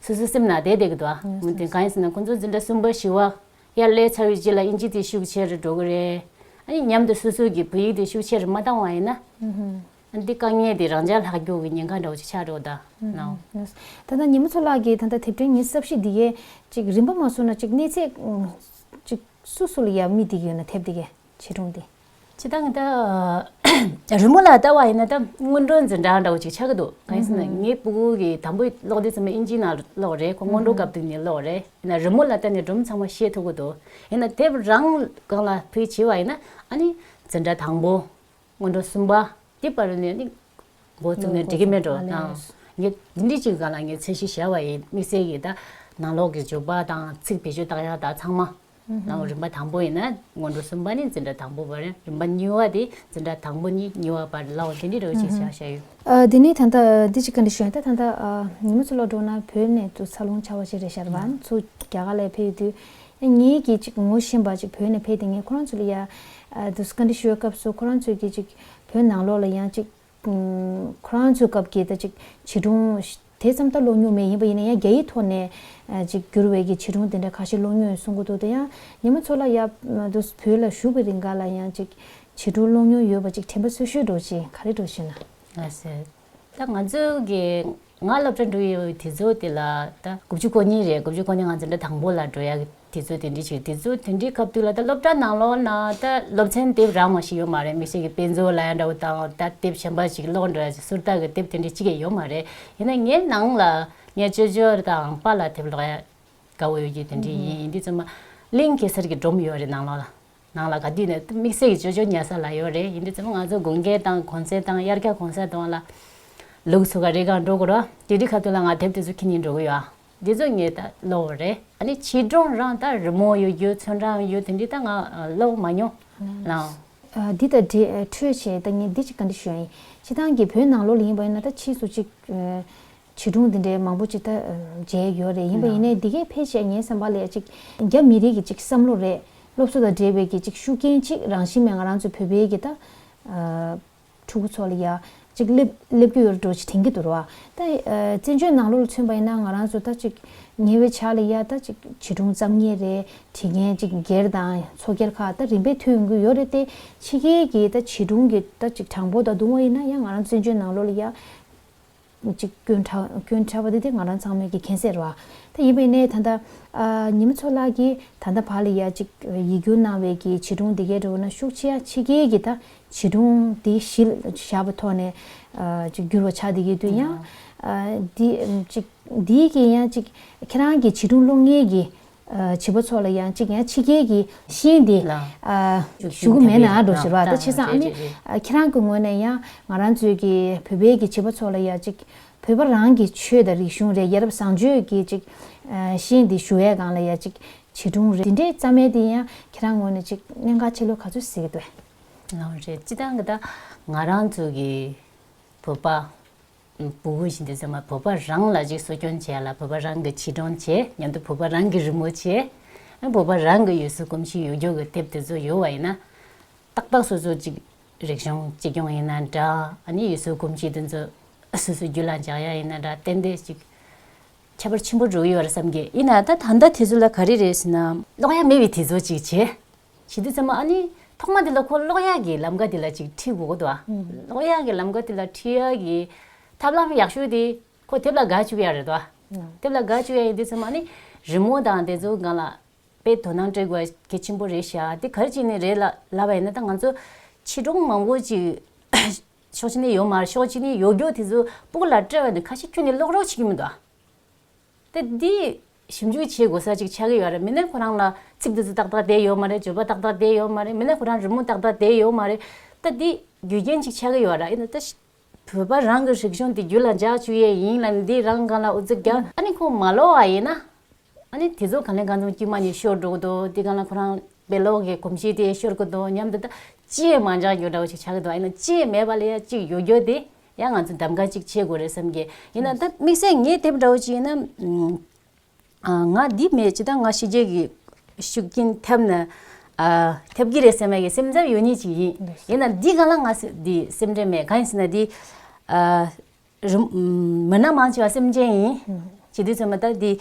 སོ་སོའི་སེམས་ལ་བདེ་བདེ་གི་འདུག་ཨ། དེ་གང་ཡིན་ཟེར་ན་ཁོང་ཚོ་འཛིན་གྲྭ་གསུམ་པ་བཞི་བ། དབྱར་གླའི་ཚ་བའི་དཀྱིལ་ལ་དབྱིན་ཇི་དེ་ཤུགས་ཆེ་རེ་འགྲོ་གི་རེད། ཨ་ཡིན་མཉམ་དུ་སོ་སོ་གི་བོད་ཡིག་དེ་ཤུགས་ཆེ་རེ་མ་བཏང་བ་ཡིན་ན། ཨ་འདི་དཀའ་ངལ་དེ་རང་ཅག་ལྷག་རྒྱུག་གི་ཉེན་ཁ་འདྲ་བོ་ཅིག་ཆགས་འགྲོ་གདའ། ད་ལྟ་ཉི་མ་འཚོ་ལགས་ཀྱིས་ད་ལྟ་དེབ་ཕྲེང་གཉིས་གསབ་གཞི་འདི་གའི་ཅིག་རིམ་པ་མ་བཟོ་ན་ཅིག་གནས་ཚད་ཅིག་སུ་སུ་ལ་ཡ་མི་འདི་གི་ཡོད་ན་དེབ་འདི་གའི་བྱེ་སྒྲུང་འདི། ཇི་ལྟ་ང་ལྟ། རི་མོ་ལ་བལྟ་བ་ཡིན་ན་ད་སྔོན་འགྲོ་འཛིན་གྲྭ་འདྲ་བོ་ཅིག་ཆགས་ཀྱི་འདུག་གང་ཡིན་ཟེར་ན་ངའི་སྤུ་གུ་གི་དང་པོའི་གློག་འདི་ཚང་མ་ཨིན་ཇིའི་ནང་གློག་རེད་ཁོ་སྔོན་འགྲོ་སྐབས་དུས་ནས་གློག་རེད་ཡིན་ན་རི་མོ་ལ་བལྟ་ནས་སྒྲོམ་ཚང་མ་ཤེས་ཐུབ་ཀྱི་འདུག་ཡིན་ན་དེབ་རང་སྒང་ལ་བུད་བྱས་པ་ཡིན་ན་ཨ་ནི་འཛིན་གྲྭ་དང་པོ་སྔོན་འགྲོ་གསུམ་པ་དེ་བར་ནས་ནི་མགོ་བཙུགས་ནས་འདྲི་གི་མེད་འགྲོ་དང། ངས་འདི་འདྲི་ཅིག་ག་ལ་ངས་ཚད་གཞི་ཞལ་བ་ཡི་དམིགས་བསལ་གྱི་ནང་ལོགས་ཀྱི་འཇུག་པ་དང་ཚིག་བེད་སྤྱོད་བཏགས་ཡག་དག་ཚང་མ། ནའོ་རིམ་པ་དང་པོ་ཡིན་ན་སྔོན་འགྲོ་གསུམ་པ་ནི་འཛིན་གྲྭ་དང་པོ་བར་རིམ་པ་གཉིས་བ་དེ་འཛིན་གྲྭ་དང་པོ་གཉིས་གཉིས་བ་བར་ལའོ་དེ་འདྲི་རོ་ཞེས་བྱ་བྱ་ཡོད། དེ་ནས་ད་ལྟ་འདི་ཅིག་ག་འདྲི་ཞེ་ན་ད་ལྟ་ཉིན་མོ་ཚོ་སློབ་གྲོགས་རྣམས་བོད་ནས་ཚུར་འཚར་ལོངས་བྱ་བ་ཞིག་རེད་ཤར་བ་ཚོ་རྒྱ་གར་ལས་ཕེབས་ཡོད་དུས། ངེད་ཀྱིས་ཅིག་ངོ་ཤེས་པ་ཅིག་བོད་ནས་ཕེབས་དེ་ངས་ཁོ་རང་ཚོ་ལ་ཡར། འདི་ཚོ་ག་འདྲི་ཞུ་བའི་སྐབས་སུ་ཁོ་རང་ཚོས་ཀྱིས་ཅིག་བོད་ནང་ལོགས་ལ་ཡང་ཅིག། ཁོ་རང་ཚོའི་སྐབས་ཀྱི་ད་ཅིག་བྱིས་སྒྲུང། དེ་ཙམ་ད་ལོག་མྱོང་མེད་ཡིན་པ་ཡིན་ན་ཡང་རྒྱ་ཡིག་ཐོག་ནས། ཅིག་བསྒྱུར་བའི་ཀྱི་བྱིས་སྒྲུང་དེ་འདྲ་ཁ་ཤས་ལོག་མྱོང་ཡོད་གསུང་གི་འདུག་དེ་ཡང་ཉེ་མ་ཚོ་ལ་ཡ། དུ་བོད་ལ་བཞུགས་པའི་རིང་འགའ་ལ་ཡང་ཅིག། བྱིས་སྒྲུང་ལོག་མྱོང་ཡོད་པ་ཅིག་དྲན་པ་སོད་ཤོད་འགྲོ་ཅིག་ག་རེ་འགྲོ་ཞེ་ན། ལ་སོད། ད་ང་ཚོ་གི་ང་སློབ་གྲྭ་འགྲོ་ཡི་དེ་ཚོ་དེ་ལ་ད་དགུ་བཅུ་གོ་གཉིས་རེད་དགུ་བཅུ་གོ་གཉིས་ང་ཚོ་འདྲ་དང་པོ་ལ་འགྲོ་ཡ་དེ་ཚོ་དེ་འདྲི་ཞིག་དེ་ཚོ་དེ་འདྲི་སྐབས་དུས་ལ་ད་སློབ་གྲྭ་ནང་ལོགས་ན་ད་སློབ་ཚན་དེབ་རང་མ་ཞིག་ཡོད་མ་རེད་མི་ཞིག་གི་དཔེ་མཛོད་ལ་ཡང་འདྲ་བོ་དང་ད་དེབ་གཞན་པ་ཞིག་ཀློག་འདྲ་ཟུར་བལྟ་གི་དེབ་དེ་འདྲི་གཅིག་ཡང་ཡོད་མ་རེད་ཡིན་ན་ངའི་ནང་ལ་ངའི་ཅོ་ཅོ་དང་པ་ལ་དེབ་ཀློག་ཡ་དགའ་བོ་ཡོད་ཀྱི་དེ་འདྲི་ཡིན་ཡིན་དུས་ཚོད་མ་གླིང་གེ་སར་གི་སྒྲོམ་ཡོད་རེད་ནང་ལོགས་ལ། ནང་ལ་ག་དུས་ནས་དམིགས་བསལ་གྱི་ཅོ་ཅོ་ཉལ་ས་ལ་ཡོད་རེད་ཡིན་དུས་ཚོད་ལ་ང་ཚོ་དགུན་སྐྱེལ་དང་གོང་ཚེས་དང་དབྱར་སྐྱ་གོང་ས་དང་ལ། ལུག་ཚོ་ག་རེ་གང་འགྲོ་དགོས་རོ། དེ་དུས་ཁ་ཐུག་ལ་ང་དེབ་དེ་ཚོ་ཁྱི་ཉིན་འགྲོ་གི་ཡོད། འདི་ཚོ་ངས་ད་ཀློག་བ་རེད། ཨ་ནི་ཕྱི་དྲོང་རང་ད་རི་མོ་ཡོད་རྒྱུ་ཚོན་ཁྲའང་ཡོད་དེ་འདི་ད་ང་ཀློག་མ་མྱོང། ལང། འདི་ད་འདྲི་འཕྲོད་བྱས་ད་ངས་འདི་ཅིག་ག་འདྲི་ཞུ་ཡ་ཡིན། ཕྱི་ཐང་གི་བོད་ནང་ལོག་ལི་ཡིན་པ་ཡིན་ན་ད་ཕྱིས་སུ་ཅིག། བྱིས་སྒྲུང་འདི་འདྲའི་མང་པོ་ཅིག་ད་མཇལ་ཡོད་རེད་ཡིན་པ་ཡིན་ནའི་འདི་གའི་ཕལ་ཆེར་ངའི་བསམ་པ་ལས་ཅིག་རྒྱ་མི་རིགས་ཀྱི་ཅིག་བསམ་བློ་རེད་སློབ་གསོ་དང་འབྲེལ་བའི་གྱི་ཅིག་ཤུགས་རྐྱེན་ཅིག་རང་བཞིན་མེད་ང་རང་ཚོའི་བོད་པའི་གྱི་ད་ཕྲུ་གུ་ཚོ་ལ་ཡ་ཅིག་སླེབས་རྒྱུ་ཡོད་རེད་འགྲོ་ཅིག་དེང་གི་དུར་བ་ད་བཙན་བྱོལ་ནང་ལོ་ལ་མཚོན་པ་ཡིན་ན་ང་རང་ཚོ་ད་ཅིག་ཉེ་བའི་ཆར་ལ་ཡ་ད་ཅིག་བྱིས་སྒྲུང་བརྩམས་ངེས་རེད་བྲིས་མཁན་ཅིག་སྒེར་དང་ཚོ་སྒེར་ཁག་ད་རིམ་པས་མཐུད་ཡོང་གི་ཡོད་རེད་དེ་ཕྱི་རྒྱལ་གྱི་ད་བྱིས་སྒྲུང་གི་ད་ཅིག་གྲངས་འབོར་ད་དུང་བ་ཡིན་ན་ཡ་ང་རང་བཙན་བྱོལ་ནང་ལོ་ལ་ཡ། གཅིག་སྐྱོན་ཕྲ་སྐྱོན་ཕྲ་བ་དེ་དེ་ང་རང་ཚང་མའི་གི་གྷན་སེར་བ་དེ་ཡིན་པའི་ནས་ད་ལྟ་ཉི་མ་ཚོ་ལགས་ཀྱིས་ད་ལྟ་བར་ལ་ཡ་གཅིག་ཡིག་སྒྱུར་གནང་བའི་གི་བྱིས་སྒྲུང་དེ་གའི་འགྲོ་བ་ན་ཤུགས་ཆེ་ཡ་ཆེ་རྒྱལ་གྱི་ད་བྱིས་སྒྲུང་དེ་གཞི་བཞག་པ་ཐོག་ནས་གཅིག་སྒྱུར་བ་ཆགས་དེ་གའི་དུས་ཡང་དེ་གཅིག་དེའི་གི་ཡང་གཅིག་ཁྱེད་རང་གི་བྱིས་སྒྲུང་ལོ་ལྔའི་གི་བྱིས་པ་ཚོ་ལ་ཡང་གཅིག་ཡང་ཕྱི་རྒྱལ་གྱི་ཤིང་དེ་ཞུ་གི་མེད་ན་འགྲོ་ཟེར་བ་ད་ཆེ་ཚང་ཨ་མི་ཁྱེད་རང་གི་ངོས་ནས་ཡང་ང་རང་ཚོའི་གི་བོད་པའི་གི་བྱིས་པ་ཚོ་ལ་ཡང་གཅིག་བོད་པ་རང་གི་ཆོས་དང་རིག་གཞུང་རེད་ཡ་རབས་བཟང་སྤྱོད་གི་གཅིག་ཤིང་དེ་ཞུ་ཡས་གང་ལ་ཡང་གཅིག་བྱིས་སྒྲུང་རེ་འདི་འདྲའི་རྩ་མེད་དེ་ཡང་ཁྱེད་རང་ངོས་ནས་གཅིག་གནད་འགག་ཆེ་ལོ་ག་ཚོད་ཟེར་གི་འདུག། ལམ་རེད་ཅི་ལྟར་གི་ད་ང་རང་ཚོའི་གི་བོད་པ་བུ་བུ་བཞིན་དུ་བརྩེ་བ་བུ་ཕ་རང་ལ་གཅིག་གསོ་སྐྱོང་བྱས་ལ་བུ་ཕ་རང་གི་ཕྱིར་དྲང་བྱས་མཉམ་དུ་བུ་ཕ་རང་གི་རི་མོ་བྱས། བུ་ཕ་རང་གི་ཡུལ་སྲོལ་གོམས་གཤིས་ཡོད་རྒྱུགས་ཀྱི་དེབ་དེ་ཚོ་ཡོད་བ་ཡིན་ན། ཏག་ཏག་སོ་སོ་གཅིག་རིག་གཞུང་གཅིག་སྐྱོང་ཡིན་ན་འདྲ། ཡུལ་སྲོལ་གོམས་གཤིས་དེ་ཚོ་སོ་སོའི་རྒྱུད་ལ་འཇགས་ཡ་ཡིན་ན་འདྲ་ཏན་ཏན་ཅིག་ཁྱད་པར་ཆེན་པོ་འགྲོ་ཡི་བར་བསམ་གི་ཡིན། ད་ལྟ་དེ་ཚོ་ལ་ག་རེ་རེད་ཟེར་ན། ཀློག་ཡ་མེད་པའི་དེ་ཚོ་ཅིག་བྱས། ཞི་བདེ་ཚད་མ་ཨ་ནི། ཐོག་མ་འདི་ལ་ཁོ་གློག་ཡག་གི་ལམ་ཀ་འདི་ལ་ཅིག་ཁྲིད་དགོས་གོ་དོ། གློག་ཡག་གི་ལམ་ཀ་དེ་ལ་ཁྲིད་ཡ་གི། ཐབས་ལམ་ཡག་ཤོས་དེ། ཁོ་དེབ་ལ་དགའ་བཅུག་ཡ་རེད་དོ། དེབ་ལ་དགའ་བཅུག་ཡ་ཡིན་དུས་ཚད་མ་ཨ་ནི། རི་མོ་དང་དེ་ཚོ་སྒང་ལ། དཔེ་དོ་སྣང་སྤྲད་དགོས་གལ་ཆེན་པོ་རེད་ཤག་དེ་གར་ཅིག་ནས་རེད་ལབ་པ་ཡིན་ན་ད་ང་ཚོ། ཕྱི་དྲོང་མང་པོ་ཅིག། ཕྱོགས་གཅིག་ནས་ཡོ་མར་ཕྱོགས་གཅིག་ནས་ཡོ་རྒྱུག་དེ་ཚོ་སྤུག་ལ་སྤྲད་པ་ནི་ཁ་ཤས་ཁྱོད་ནི་གློག་རོགས་བྱེད་ཀྱི་མི་འདུག་ཨ། ཏེ། འདི་ཞིབ་འཇུག་བྱེད་དགོས་ས་གཅིག་ཆགས་ཀྱི་ཡོད་རེད་མི་སྣའི་ཁོ་རང་ལ་ཚིག་འདི་ཚོ་ཏག་ཏག་བསྡད་ཡོད་མ་རེད་བརྗོད་པ་ཏག་ཏག་བསྡད་ཡོད་མ་རེད་མི་སྣ་ཁོ་རང་རི་མོ་ཏག་ཏག་བསྡད་ཡོད་མ་རེད། ཏེ་འདི་རྒྱུ་རྐྱེན་གཅིག་ཆགས་ཀྱི་ཡོད་རེད་ཨེ། ཏེ། བོད་པ་རང་གི་རིག་གཞུང་འདི་རྒྱུད་ལ་འཇགས་བཅུག་ཡས་ཡིན་ལ་འདི་རང་རྐང་ལ་འུ་ཚོ་རྒྱ། ཨ་ནི་ཁོང་མ་ལོག་བ་ཡིན་ན། ཨ་ནི་དེ་ཚོ་གང་ལས་གང་འཚམ་དཀྱུས་མ་ནས་ཤོར་འགྲོ་གི་འདུག་དེ་གང་ལ་ཁོ་རང་དཔེ་ཀློག་གི་གོམས་གཤིས་དེ་ཤོར་གི་འདུག་སྙམ་དེ་དག་ཅིས་མ་འཇགས་རྒྱུ་འདྲ་བོ་ཞིག་ཆགས་ཀྱི་འདུག་ཨ་ནི་ཅིས་མེད་པ་ལས་ཡང་གཅིག་ཡོད་རྒྱུ་དེ་ཡང་ང་ཚོས་འདམ་ག་གཅིག་བྱེད་དགོས་རེད་བསམ་གི་ཡིན་ན་ད་དམིགས་བསལ་ངས་དེབ་འདྲ་བོ་ཅིག་ཡིན་ན། ང་འདི་མེད་ཅི་ད་ང་ཕྱི་རྒྱལ་གྱི་ཤུགས་རྐྱེན་ཐེབས་ན། ཐེབས་ཀྱི་རེད་བསམ་མ་གི་སེམས་འཚབ་ཡོད་ཉིད་ཅིག་ཡིན། ཡིན་ན་འདི་ག་ལ་ང་འདི་སེམས་ཁྲལ་མེད་གང་ཡིན་ཟེར་ན་འདི། མི་སྣ་མང་ཆེ་བ་སེམས་ཅན་ཡིན། བྱེད་དུས་ཚོད་མ་ད་འདི།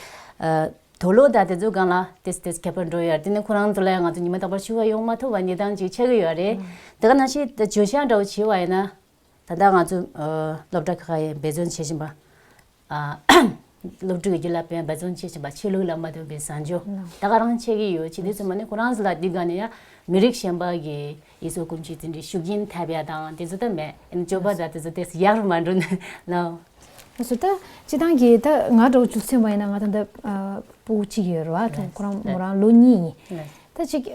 དོ་ལོ་ད་དེ་ཚོ་གང་ལ་དེས་དེས་ཁྱབ་པར་འགྲོ་ཡོད་དེ་ནི་ཁོ་རང་ཚོ་ལ་ཡང་ང་ཚོ་ཉི་མ་རྟག་པར་ཆུ་བ་ཡོང་མ་ཐུབ་པ་ནི་སྟངས་ཅིག་ཆགས་ཀྱི་ཡོད་རེད། དེ་ག་ནང་བཞིན་བརྗོད་བྱ་འདྲ་བོ་བྱས་པ་ཡིན་ན། ད་ལྟ་ང་ཚོས་སློབ་གྲྭ་ཁག་ཁག་འབད་བརྩོན་བྱེད་བཞིན་པ། སློབ་ཕྲུག་གི་རྒྱུད་ལ་འབད་བརྩོན་བྱེད་བཞིན་པ་ཆོས་ལུགས་ལ་མ་བསྟུན་པའི་བཟང་སྤྱོད་ད་ག་རང་འཆད་ཀྱི་ཡོད་ཅི་ནས་སོ་མ་ནི་ཁོ་རང་ཟ་ལ་འདི་ག་ནས་ཡ་མི་རིགས་གཞན་པ་གི་ཡིད་སྲོག་ཀུན་སྤྱོད་དེ་འདྲའི་ཤུགས་རྐྱེན་ཐེབས་ཡ་དང་དེ་ཚོ་ད་མེད་ཡིན་ན་སྤྱོད་པ་ད་དེ་ཚོ་དེ་སྲིད་ཡག་རུ་མ་འགྲོ་ནི་ལོ། ཨོ་སོ་ད་སྤྱི་བཏང་གི་ད་ང་གྲོགས་བཅུ་གསུམ་པ་ཡིན་ན་ང་དང་ད་པོ་གཅིག་ཡོད་རེད་བ་ཁོ་རང་མོ་རང་ལོ་གཉིས་ཡིན། ད་གཅིག་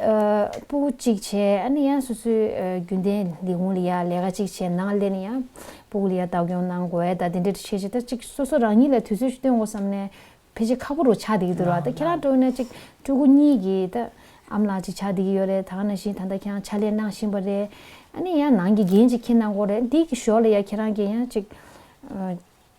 པུ་གཅིག་བྱས་ཨ་ནི་ཡང་སོ་སོའི་རྒྱུན་ལྡན་ལས་ཁུངས་ལ་ཡང་ལས་ཀ་གཅིག་བྱས་ནང་སླེབས་ནས་ཡང་པུ་ལ་ཡང་བདག་སྐྱོང་གནང་དགོས་ཨེ་ད་དེ་འདྲ་བྱས་བྱས་ད་གཅིག་སོ་སོ་རང་ཉིད་ལ་དུས་ཚོད་ཤིག་སྟོན་དགོས་བསམ་ནས་ཕལ་ཆེར་ཁ་པོ་རུ་ཆགས་བསྡད་ཀྱི་འདུག་ར་ད་ཁྱེད་རང་སྤྲོ་ན་གཅིག་སྤྲུལ་སྐུ་གཉིས་ཀྱིས་ད་ཨམ་ལགས་གཅིག་ཆགས་བསྡད་ཀྱི་ཡོད་རེད་ད་ནང་བཞིན་ད་ལྟ་ཁྱེད་རང་ཕྱག་ལས་གནང་བཞིན་པ་རེད་ཨ་ནི་ཡང་ནང་གི་འགན་གཅིག་ཁྱེད་གནང་དགོས་རེད་འདི་གི་ཞོར་ལ་ཡང་ཁྱེད་རང་གིས་ཡང་གཅིག།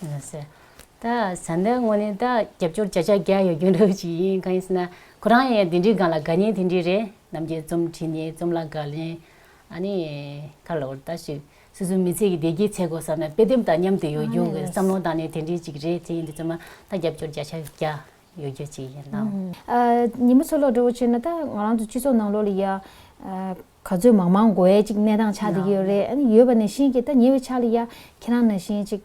བཟའ་ཟླ་དངོས་ནི་རྒྱབ་སྐྱོར་བྱ་གཞག་རྒྱག་ཡོད་རྒྱུ་འདུག་ཅི་ཡིན་གང་ཡིན་ཟེར་ན་ཁོ་རང་ཡང་དེ་འདྲའི་སྒང་ལ་དགའ་ཉེ་དེ་འདྲའི་རེད་ནམ་རྒྱལ་རྩོམ་བྲིས་ནས་རྩོམ་ལ་དགའ་ལན་ཨ་ནི་ཁ་ལོ་ལྟ་ཞིག་སོ་སོའི་མི་ཚེ་གི་བདེ་སྐྱིད་ཚེ་སྒོ་བསམ་ན་དཔེ་དེབ་དང་མཉམ་དུ་ཡོད་རྒྱུ་གི་བསམ་བློ་དང་ནི་དེ་འདྲའི་ཅིག་རེད་དེ་ཡིན་དུས་ཚོད་མ་ད་རྒྱབ་སྐྱོར་བྱ་གཞག་རྒྱག་ཡོད་རྒྱུ་ཅི་ཡིན་ནམ། ཉིན་མོ་ཚོ་ལོག་འགྲོ་བ་བྱས་ན་ད་ང་རང་ཚོ་སྤྱི་ཚོགས་ནང་ལོག་ལ་ཡ། ག་ཚོད་མང་མང་འགོ་ཡ་ཅིག་གནས་སྟངས་ཆགས་བསྡད་ཀྱི་ཡོད་རེད་ཨ་ཡོད་པ་ནས་བཞིན་གྱི་ད་ཉེ་བའི་ཆ་ལ་ཡ་ཁྱེད་རང་ནང་བཞིན་ཅིག་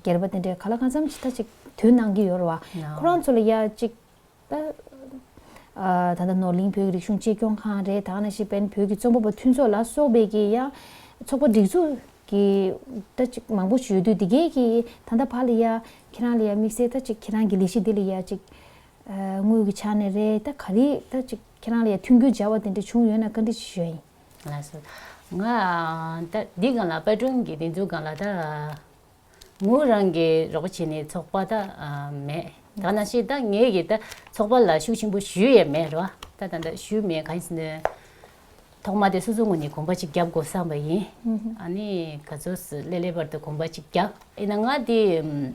སྒེར་པ་དེ་འདྲས་ག་ལ་གང་འཚམ་ཅིག་ད་ཅིག་དུས་གནང་གྱི་ཡོད་རེད་བ་ཁོ་རང་ཚོ་ལ་ཡ་ཅིག་ད་ད་ལྟ་ནོར་གླིང་བོད་ཀྱི་རིག་གཞུང་གཅེས་སྐྱོང་ཁང་རེད་དང་ནང་བཞིན་བན་བོད་ཀྱི་རྩོམ་པ་པོ་མཐུན་ཚོགས་ལ་སོགས་པའི་གྱི་ཡ་ཚོགས་པ་སྒྲིག་འཛུགས་ཀྱི་ད་ཅིག་མང་པོ་ཞིག་ཡོད་དུས་དེ་གའི་གྱི་ད་ད་བར་ལ་ཡ་ཁྱེད་རང་ལ་ཡ་དམིགས་བསལ་ད་ཅིག་ཁྱེད་རང་གྱི་ལས་གཞི་འདི་ལ་ཡ་ཅིག་དངུལ་གྱི་ཆ་ནས་རེད་ད་ག་རེ་ད་ཅིག་ཁྱེད་རང་ལ་ཡང་མཐུན་འགྱུར་འཇལ་བ་དེ་འདྲ་བྱུང་ཡོད་ན་བཀའ་འདྲི་ཅིག་ཞུ་ཨ་ཡིན། ལ་སོ། ང་ད་འདི་སྒང་ལ་པར་སྐྲུན་གྱི་འདི་འཛུགས་སྒང་ལ་ད་ངོས་རང་གི་རོགས་པ་བྱེད་ནི་ཚོགས་པ་ད་མེད་ད་ན་ཤེས་ད་ངེད་གི་ད་ཚོགས་པ་ལ་ཤུགས་ཆེན་པོ་ཞུས་ཡས་མེད་རོ་ད་ད་ད་ཞུས་མེད་ག་ཡིན། ཐོག་མ་དེ་སོ་སོ་ངོས་ནས་གོམ་པ་ཅིག་རྒྱབ་དགོས་བསམ་པ་ཡིན། ཨ་ནི་ག་ཚོད་སུ་ལེ་ལེ་བར་དུ་གོམ་པ་ཅིག་རྒྱབ་ཨེ་ན་ང་དེ།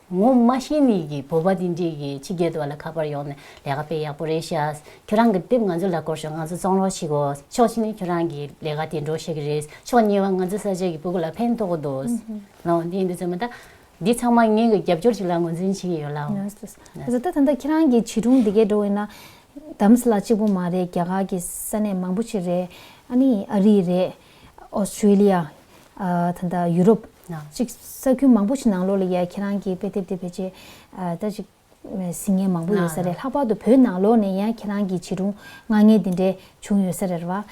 ངོ་མ་ཤེས་མེད་ཀྱི་བོད་པ་འདི་འདྲས་ཀྱི་ཕྱི་རྒྱལ་དུ་བ་ལ་ཁ་པར་ཡོང་ནས་ལས་ཀ་སྤེལ་ཡག་པོ་རེད་ཤག་ཁྱོད་རང་གི་དེབ་ང་ཚོ་ལ་བསྐུར་ཤོག་ང་ཚོ་གཙང་རོགས་བྱེད་དགོས་ཕྱོགས་གཅིག་ནས་ཁྱོད་རང་གི་ལས་ཀ་དེ་འགྲོ་ཤེས་ཀྱི་རེད་ཕྱོགས་གཉིས་པ་ང་ཚོ་ས་ཆ་གི་བོད་གུ་ལ་ཕན་ཐོགས་འདུག་ལའོ་དེ་ཡིན་དུས་ཚོད་མ་འདའ། འདི་ཚང་མ་ངེད་གི་རྒྱབ་སྐྱོར་ཅིག་ལ་ངོས་འཛིན་བྱེད་ཀྱི་ཡོད་ལའོ། བཟོ་ལྟ་ད་ལྟ་ཁྱེད་རང་གི་བྱིས་སྒྲུང་འདི་གས་འགྲོ་འོས་ན། དམ་སྲི་ལ་གཅིག་པོ་མ་རེད་རྒྱ་གར་གི་ས་གནས་མང་པོ་ཆེ་རེད། ཨ་ནི་ཨ་རི་རེད། ཨོ་སི་ཀྲི་ལི་ཡ། ད་ལྟ་ཡུ་རོབ། ནང་གཅིག་ས་ཁྱོན་མང་པོ་ཞིག་ནང་ལོགས་ལ་ཡ་ཁྱེད་རང་གི་དཔེ་དེབ་དེ་བེད་སྤྱད་ད་ཅིག་ཟིན་ངེས་མང་པོ་ཡོད་ས་རེད་ལྷག་པར་དུ་བོད་ནང་ལོགས་ནས་ཡ་ཁྱེད་རང་གི་བྱིས་སྒྲུང་ངག་ངན་དེ་འདྲས་བྱུང་ཡོད་ས་རེད་བ།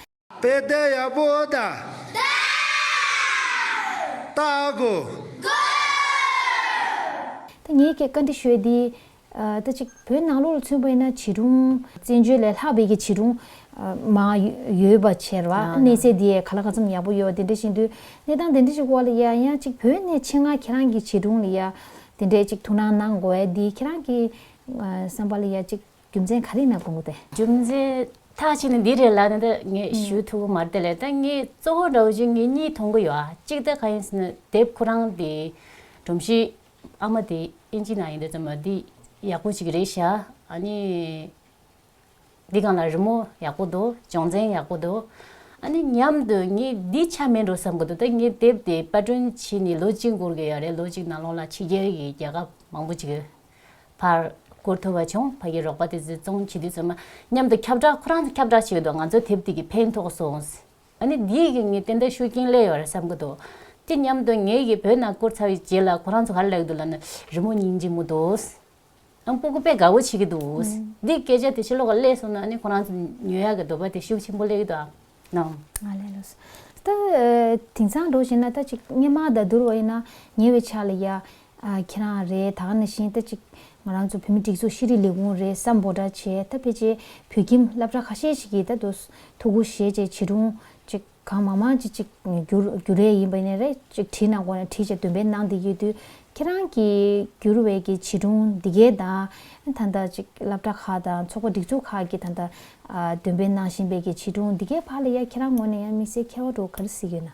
དཔེ་དེབ་ཡག་པོ་ད་ལྟ་དགོས། ད་ངས་ཁྱེད་བཀའ་འདྲི་ཞུས་འདི། ལྟ་ཅི། བོད་ནང་ལོགས་ལ་མཚོན་པས་ན་བྱིས་སྒྲུང། བཙན་བྱོལ་ལས་ལྷག་བོད་ཀྱི་བྱིས་སྒྲུང། མ། ཡོད་པ་ཕྱིར། གནས་ཚད་འདི་ག་ལ་ག་ཙམ་ཡག་པོ་ཡོད་དེ་འདྲ་བཞིན་དུ། གནས་སྟངས་དེ་འདྲ་ཞིག་འོག་ལ་ཡ་ཡང་ཅིག་བོད་ནས་ཕྱི་ནང་ཁྱེད་རང་གི་བྱིས་སྒྲུང་ལ་ཡ། དེ་འདྲས་ཅིག་ཐུགས་སྣང་གནང་དགོས་ཨེ་འདི་ཁྱེད་རང་གི། བསམ་པ་ལ་ཡ་ཅིག་རྒྱུ་མཚན་ག་རེ་གནང་དགོས་དེ། རྒྱུ་མཚན། ཐག་ཆད་ནི་འདི་རེད་ལ་ནི་ད་ངས་ཞུ་ཐུབ་ཀྱི་མ་རེད་དེ་ལས་ད་ངས་གཙོ་བོ་འདྲ་བོ་ཅིག་ངེད་གཉིས་མཐོང་གི་ཡོད་ཨ་གཅིག་ད་ག་ཡིན་ཟེར་ན་དེབ་ཁོ་རང་དེ། སྒྲོམ་གཞི། ཨ་མ་དེ་ཨིན་ཇི་ནང་ཡིན་འདུག་ཙམ་མ་འདི་ཡག་པོ་ཞིག་རེད་ཤག་ཨ་ནི། འདི་གང་ལ་རི་མོ་ཡག་པོ་འདུག་བྱང་ཚན་ཡག་པོ་འདུག་ཨ་ནི་སྙམ་དུ་ངས་འདི་ཆ་མེད་འགྲོ་བསམ་གི་འདུག་ད་ངས་དེབ་དེ་པར་སྐྲུན་བྱས་ནས་ལོ་གཅིག་འགོར་གི་ཡོད་རེད་ལོ་གཅིག་ནང་ལོགས་ལ་ཕྱི་རྒྱལ་གྱི་རྒྱལ་ཁབ་མང་པོ་ཅིག་བར་བསྐུར་ཐུབ་པ་བྱུང་ཕ་གི་རོགས་པ་དེ་ཚོས་བཙོང་བྱེད་དུས་ཚོད་མ་སྙམ་དུ་ཁྱབ་བསྒྲགས་ཁོ་རང་ཁྱབ་བསྒྲགས་བྱས་འདུག་ང་ཚོ་དེབ་དེ་གི་ཕན་ཐོགས་སོང། ཨ་ནི་འདི་ཡི་གིས་ངའི་བསྟན་དར་ཤུགས་རྐྱེན་གླས་ཡོད་རེད་བསམ་གི་འདུག་དེ་སྙམ་དུ་ངའི་གིས་བོད་ནང་བསྐུར་ཚར་བའི་རྗེས་ལ་ཁོ་རང་ཚོ་གར་ལེགས་འདུག་ལབ་ན་རི་མོ་གཉིས་འབྱིན་མོ་འདུག་ཨང་པོ་ཀུ་པས་དགའ་བོ་བྱེད་ཀྱི་འདུག་འདི་སྐད་ཆ་དེ་ཕྱི་ལོགས་ཀ་གླས་སོང་ན་ཨ་ནི་ཁོ་རང་ཚོ་ཉོས་ཡག་གི་འདོད་པ་དེ་ཤུགས་ཆེན་པོ་གླས་ཀྱི་འདུག་ཨང་གནང། ང་ལས་ལོས་སོ། ད་དེང་སང་འགྲོ་བཞིན་ན་ད་ཅིག་སྙེ་མ་ད་དུར་བ་ཡིན་ན་ཉེ་བའི་ཆ་ལ་ཡ། ཁྱེད་རང་རེད་ད་ག་ནས་བཞིན་ལྟ་ཅིག་ང་རང་ཚོ་བོད་མི་སྒྲིག་འཛུགས་ཤེས་རིག་ལས་ཁུངས་རེད་ས་འབོ་སྒྲ་བྱས་ད་ཕེ་ཅེ་བོད་ཁྱིམ་བསླབ་གྲྭ་ཁ་ཤས་ཤིག་གིས་ད་དུ་ཐུག་གུ་བཞེས་བྱས་བྱིས་སྒྲུང་ཅིག་གང་མང་མང་ཅིག་ཅིག་བསྒྱུར་རྒྱུ་རེད་ཡིན་པ་ནས་རེད་ཅིག་བྲིས་ན་གོ་ན་བྲིས་བྱས་འདོན་སྤེལ་གནང་བསྡད་ཡོད་དུས་ཁྱེད་རང་གིས་བསྒྱུར་བའི་གི་བྱིས་སྒྲུང་འདི་གའི་དང་ད་ལྟ་ཅིག་བསླབ་གྲྭ་ཁག་དང་ཚོགས་པ་སྒྲིག་འཛུགས་ཁག་གིས་ད་ལྟ་འདོན་སྤེལ་གནང་བཞིན་པའི་གི་བྱིས་སྒྲུང་འདི་གའི་བར་ལ་ཡ་ཁྱེད་རང་ངོ་ནས་ཡ་དམིགས་བསལ་མཁས་བ་འགྲོ་ག་རེ་གཟིགས་ཡོད་ན།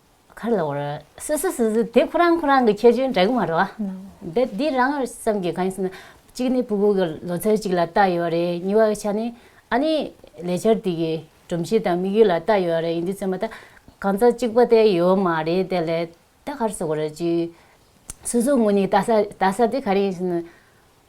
གར་ལ་བོར། སུ་སུ་སུ་སུ་དེ་ཁོ་རང་ཁོ་རང་གི་ཁྱད་ཆོས་འདྲ་གི་མ་རེད། འདི་འདི་རང་བསམ་གི་གང་ཞེ་ན། གཅིག་ནི་བུ་གུ་གི་ལོ་ཚོད་ཅིག་ལ་བལྟ་ཡོད་རེད་གཉིས་པ་ཆ་ནི། ཨ་ནི་ལས་འཆར་དེ་གི་སྒྲོམ་གཞི་དང་དམིགས་ཡུལ་ལ་བལྟ་ཡོད་རེད་ཡིན་དུས་ཚོད་མ་ད་གང་ཚ་གཅིག་པ་དེ་ཡོད་མ་རེད་དེ་ལས་ད་གར་སུ་བོར་ཅིག། སུ་སུ་ངོ་ནི་བལྟ་ས་བལྟ་ས་དེ་ག་རེ་ཡིན་ཞེ་ན།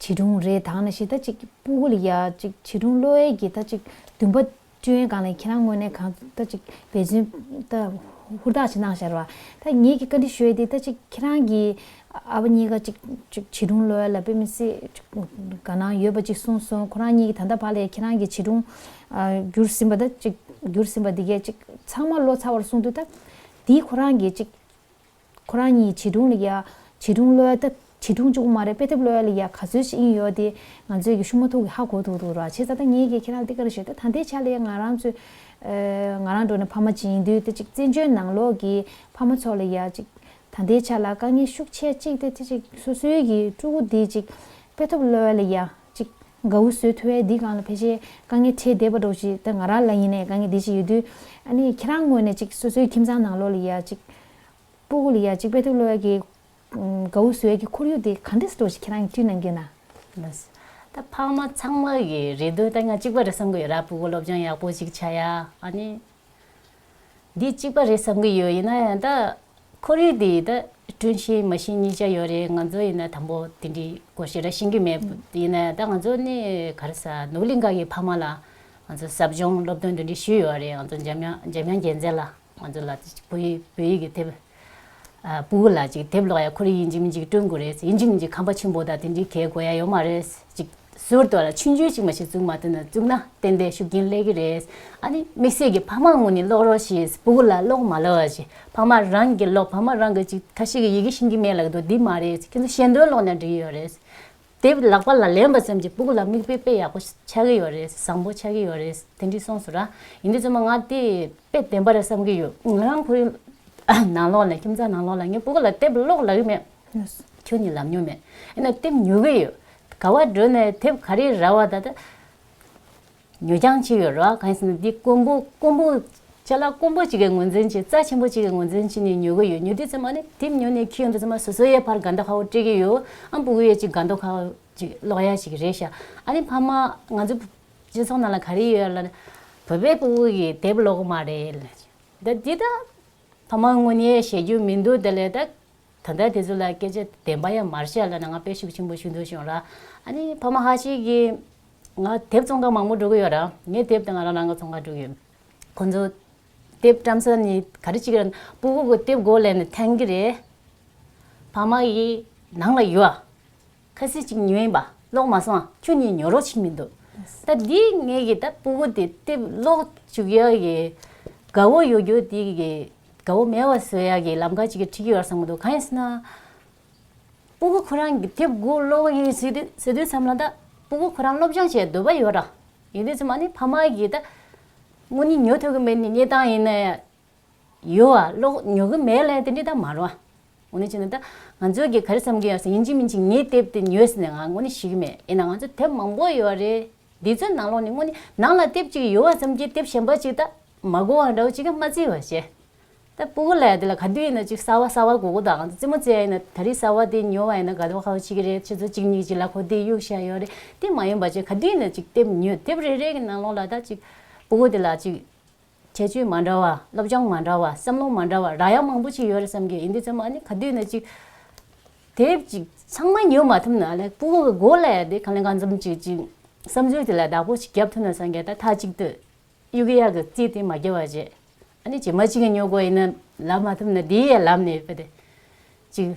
བྱིས་སྒྲུང་རེ་དག་ན་ཞེ་ད་ཅིག་སྤུ་གུ་ལ་ཡ་ཅིག་བྱིས་སྒྲུང་གློ་བའི་གྱི་ད་ཅིག་བདུན་པ་སྤྱོད་ཡན་གང་ལ་ཡིན་ཁྱེད་རང་དངོས་གནས་གང་ད་ཅིག་འབད་བརྩོན་ད་ཧུར་ཐག་ཅིག་གནང་ཤར་བ་ད་ངེད་ཀྱིས་བཀའ་འདྲི་ཞུ་ཡ་དེ་ད་ཅིག་ཁྱེད་རང་གི་ཨ་ཕ་གཉིས་ཀ་ཅིག་ཅིག་བྱིས་སྒྲུང་གློ་བ་ལ་དཔེ་མི་སྲིད་ག་ན་ཡོད་པ་ཅིག་གསུངས་སོང་ཁོ་རང་གཉིས་ཀྱིས་ད་ལྟ་བར་ལས་ཁྱེད་རང་གི་བྱིས་སྒྲུང་བསྒྱུར་ཟིན་པ་ད་ཅིག་བསྒྱུར་ཟིན་པ་འདི་གས་ཅིག་ཚང་མ་བློ་ཚ་བར་གསུངས་དུས་ད་དེའི་ཁོ་རང་གི་ཅིག། ཁོ་རང་གཉིས་བྱིས་སྒྲུང་ལ་ཡ། བྱིས་སྒྲུང་གློད་ད། བྱིས་སྒྲུང་ཅུང་མ་རེད་དཔེ་དེབ་གློད་ལ་ཡ་ག་ཚོད་ཅིག་ཡིན་ཡོད་དེ། ང་ཚོས་ཀྱི་ཤུ་མ་ཐུག་གི་ཧ་གོ་ཐུག་འདུག་ར་བྱེད་ད་ད་ངེད་ཀྱིས་ཁྱེད་རང་ལ་འདི་ག་རེ་བྱེད་ད་ད་འདི་བྱ་ལ་ཡ་ང་རང་ཚོས། ང་རང་འགྲོ་ནས་ཕ་མ་བྱིན་དུས་དེ་ཅིག་བཙན་བྱོལ་ནང་ལོག་གི་ཕ་མ་ཚོ་ལ་ཡ་ཅིག་ད་འདི་བྱ་ལ་དཀའ་ངལ་ཤུགས་ཆེ་ཅིག་དེ་དེ་ཅིག་སོ་སོའི་གི་ཕྲུ་གུ་འདི་ཅིག་དཔེ་ཐོབ་གློད་ལ་ཡ་ཅིག། དགའ་བོ་བཟོད་ཐུལ་བས་འདི་གང་ལ་ཕལ་ཆེར་དཀའ་ངལ་འཕྲད་བསྡད་པ་འགྲོ་ཅིག་ད་ང་རང་ལ་ཡིན་ནས་དཀའ་ངལ་འདི་ཅིག་ཡོད་དུས། ཨ་ནི་ཁྱེད་རང་དངོས་ནས་ཅིག་སོ་སོའི་ཁྱིམ་ཚང་ནང་ལོག་ལ་ཡ་ཅིག། སྤོ་གོ་ལ་ཡ་ཅིག་དཔལ་ཐུགས་བློ་ཡག་གིས། དགའ་བོ་བཟོད་ཀྱི་ཁོར་ཡུག་དེ་ག་འདྲས་འགྲོ་ཅིག་ཁྱེད་རང་གི་དུས་ནམ་རྒྱུན་ན། ལོས། ད་ཕ་མ་ཚང་མ་གིས་རེ་འདུན་ལྟར་ང་ཅིག་པ་རེ་བསམ་གི་ཡོད་ར་སྤོ་གོ་སློབ་སྦྱོང་ཡག་པོ་ཅིག་བྱ་ཡ་ཨ་ནི། འདི་གཅིག་པ་རེད་བསམ་གྱི་ཡོད་ཡིན་ན་ཡང་ད། ཁོར་ཡུག་འདི་ད་བསྐྲུན་ཤིང་མ་ཤིང་གཉིས་ཆ་ཡོད་རེད་ང་ཚོ་ཡིན་ན་དང་པོ་དེ་འདྲའི་སྐོར་ཞིག་ལ་ཤེས་ཀྱི་མེད་ཡིན་ན་ཡང་ད་ང་ཚོ་ནི་ག་རེ་ས་ནུབ་གླིང་ག་གི་ཕ་མ་ལ་ང་ཚོ་ཟབ་སྦྱོང་སློབ་སྟོན་འདི་འདྲའི་ཞུས་ཡོད་རེད་ང་ཚོ་འཇམ་དབྱངས་རྒྱལ་མཚན་ལ་ང་ཚོ་ལ་བོད་ཡིག་བོད་ཡིག་གི་དེབ། བུ་གུ་ལགས་ཅིག་དེབ་ཀློག་ཡ་འཁོར་ཡིན་གྱི་མིན་ཅིག་སྤྲོད་དགོས་རེད་ཡིན་གྱི་མིན་ཅིག་ཁམས་པ་ཆེན་པོ་དང་དེ་འདྲའི་གལ་དགོས་ཡ་ཡོད་མ་རེད་ཅིག་ཟུར་དུ་ལ་ཕྱི་འཇུས་ཅིག་མ་ཞིག་བཙུགས་མ་ཐུབ་ན་བཙུགས་ན་ཏན་ཏན་ཤུགས་རྐྱེན་སླེ་གི་རེད་ཨ་ནི་དམིགས་བསལ་གྱི་ཕ་མ་ངོ་ནས་ཀློག་རོགས་ཞེས་བུ་གུ་ལ་ཀློག་མ་ལོ་ཞེས་ཕ་མ་རང་གི་ཀློག་ཕ་མ་རང་གི་ཅིག་ཁ་ཤས་ཀྱི་ཡི་གེ་ཤེས་ཀྱི་མེད་ལགས་འདུག་འདི་མ་རེད་ཅིག་ཁྱེད་ཚོ་ཤེས་འདོད་ཀློག་ན་འགྲིག་ཡོད་རེད་དེ་ལག་པ་ལ་ལེན་པ་ཙམ་གྱིས་སྤུག་ལ་མིག་དཔེ་དཔེ་ཡག་པོ་ཆགས་ཀྱི་ཡོད་རེད་བཟང་པོ་ཆགས་ཀྱི་ཡོད་རེད་དེ་འདྲི་སོང་ཟུར་ར་ཡིན་དུས་རྩོད་མ་ང་དེ་དཔེ་བདེན་པ་རེད་བསམ་གྱི་ཡོད་ང་རང་ཁོའི་ནང་ལོག་ནས་ཁྱིམ་ཚང་ནང་ལོག་ལ་ངས་སྤུག་ལ་དེབ་ཀློག་ལབ་ཡི་མེད་ཁྱོད་ནི་ལབ་མྱོང་མེད་ཡིན་ན་དེབ་ཉོ་གི་ཡོད་ག་བ་འགྲོ་ནས་དེབ་ག་རེ་རལ་བ་ད་ལྟ། ཉོ་རྐྱང་བྱེད་ཡོད་ར་གང་ཟེར་ན་འདི་ཀོན་པོ་ཀོན་པོ། བྱས་ལ་ཀོན་པོ་གཅིག་གི་ངོས་འཛིན་གྱིས་རྩ་ཆེན་པོ་གཅིག་གི་ངོས་འཛིན་གྱིས་ནས་ཉོ་གི་ཡོད་ཉོ་དུས་ཚེ་མ་ནི་དེབ་ཉོ་ནས་ཁྱི་ཡོང་དུས་ཚེ་མ་སོ་སོའི་ཡའི་བར་དགའ་མདོག་ཁ་བོ་སྤྲད་ཀྱི་ཡོད་ཨ་འབུ་གུ་ཡའི་གཅིག་དགའ་མདོག་ཁ་བོ་གཅིག་གློག་ཡ་ཞིག་རེད་ཤག་ཨ་ནི་ཕ་མ་ང་ཚོའི་སྤྱི་ཚོགས་ནང་ལ་ག་རེ་ཡོད་ལ། བོད་པའི་པུ་གུ་གིས་དེབ་ཀློག་གི་མ་རེད་ལ། ད་འདི་ད། ཕ་མ་དངོས་ནས་བཤད་རྒྱུ་མི་འདུག་དེ་ལས་ད། ད་ལྟ་དེ་ཚོ་ལ་སྐད་ཆ་བདེན་པ་ཡང་མར་བཤད་ལ་ན་ང་དཔེ་ཤུགས་ཆེན་པོ་ཞུ་འདོད་བྱུང་ར། ཨ་ནི་ཕ་མ་ཧ་ཅིག་གིས། ང་དེབ་ཙོང་ཁ་མང་པོ་འགྲོ་གི་ཡོད་རང། ངའི་དེབ་དང་ང་རང་རང་གི་ཙོང་ཁ་འགྲོ་གི་ཡོད། ཁོང་ཚོ་དེབ་བཀྲམ་ས་ནི་ག་རེ་གཅིག་ར། པུ་ཧུ་གི་དེབ་སྒོ་ལས་ནས་འཐེན་གི་རེད། ཕ་མ་ཡི་ནང་ལ་ཡོད། ཁ་སི་གཅིག་ཉོས་ཡིན་པ་ཀློག་མ་སོང་ཁྱོད་གཉིས་ཉོ་རོགས་བྱེད་མི་འདུག་ད་འདི་ངས་ཀྱི་ད་པུ་ཧུ་དེ་དེབ་ཀློག་བཅུག་ཡ་གི། དགའ་བོ་ཡོད་རྒྱུ་དེ་གི་དགའ་བོ་མེད་བ་བཟོས་ཡ་གི་ལམ་ཁ་གཅིག་གི་ཁྲིད་ཀྱི་ཡོད་ར་བསམ་གི་འདུག་གང་ཡིན་ཟེར་ན། སྤོ་བོ་ཁོ་རང་གི་དེབ་སྒོ་གློག་བ་ཡིན་ཟེར་དུས་བསམ་ན་ད་སྤོ་བོ་ཁོ་རང་སློབ་སྦྱོང་བྱེད་འདོད་པ་ཡོད་ར་ཡིན་དུས་ཚོད་མ་ནི་ཕ་མ་གིས་ད་དངོས་གཉིད་ཉོ་ཐུབ་གི་མེད་ནི་གཉིད་སྟངས་ཡིན་ན་ཡང་ཡོད་ཨ་གློག་ཉོ་གི་མེད་ལ་དེ་འདྲས་ད་མ་རུང་ཨ། འོ་ན་ཅི་ན་ད་ང་ཚོས་གིས་ག་རེ་བསམ་གི་ཡོད་ས་ཡིན་ཅི་མིན་ཅི་ངའི་དེབ་དེ་ཉོས་ཟེར་ནས་ང་དངོས་གཉིད་ཤི་གི་མེད་ཡིན་ན་ང་ཚོ་དེབ་མང་པོ་ཡོད་ར་རེད་འདི་ཚོའི་ནང་ལོགས་ནས་དངོས་གཉིད་ནང་ལ་དེབ་ཅིག་ཡོད་ཨ་བསམ་གི་དེབ་གཞན་པ་ཅིག་ད་མ་གོ་བ་འདྲ་བོ་ཅིག་གི་མ་བརྩི་བ་བྱས། ད་སྤུ་གུ་ལས་དེ་ལ་ག་དུས་ཡིན་ན་ཅིག་གསར་བ་གསར་བ་གུ་གུ་དང་ཙི་མོ་བཅས་ཡིན་ན་ད་རིས་གསར་བ་དེ་ཉོ་བ་ཡིན་ན་ག་དུས་ཧོ་ཅིག་གི་རེད་ཁྱེད་ཚོ་གཅིག་གཉིས་ཀྱིས་ལ་ཁོ་དེ་གཡུག་བཞག་ཡོད་རེད་དེ་མ་ཡིན་པ་ཅིག་ག་དུས་ཡིན་ན་ཅིག་དེབ་ཉོས་དེབ་རེ་རེ་གི་ནང་ལོགས་ལ་ད་ཅིག་སྤུ་གུ་དེ་ལ་ཅིག་ཁྱད་ཆོས་མ་འདྲ་བ་སློབ་སྦྱོང་མ་འདྲ་བ་བསམ་བློ་མ་འདྲ་བ་རག་ཡག་མང་པོ་ཅིག་ཡོད་རེད་བསམ་གི་ཡིན་དེ་ཚོ་མ་ནི་ག་དུས་ཡིན་ན་ཅིག་དེབ་ཅིག་ཚང་མ་ཉོས་མ་ཐུབ་ན་ལ་སྤུ་གུ་གི་གོ་ལས་དེ་གང་ལས་གང་འཛོམས་ཅིག་ཅིག་བསམ་ཚུལ་དེ་ལ་བདག་པོ་ཅིག་རྒྱབ་ཐུབ་ན་བསམ་གི་ད་ད་ཅིག་དུས་གཡུ་གཡག་གི་རྩིས་དེ་མ་བརྒྱབ་བར་བྱས། ཨ་ནི་བྱེ་མ་གཅིག་གི་སྨྱོ་སྒོ་ཡིན་ན་ལབ་མ་ཐུབ་ན་དེའི་ཡས་ལབ་ནས་བུད་དེ། ཅིག།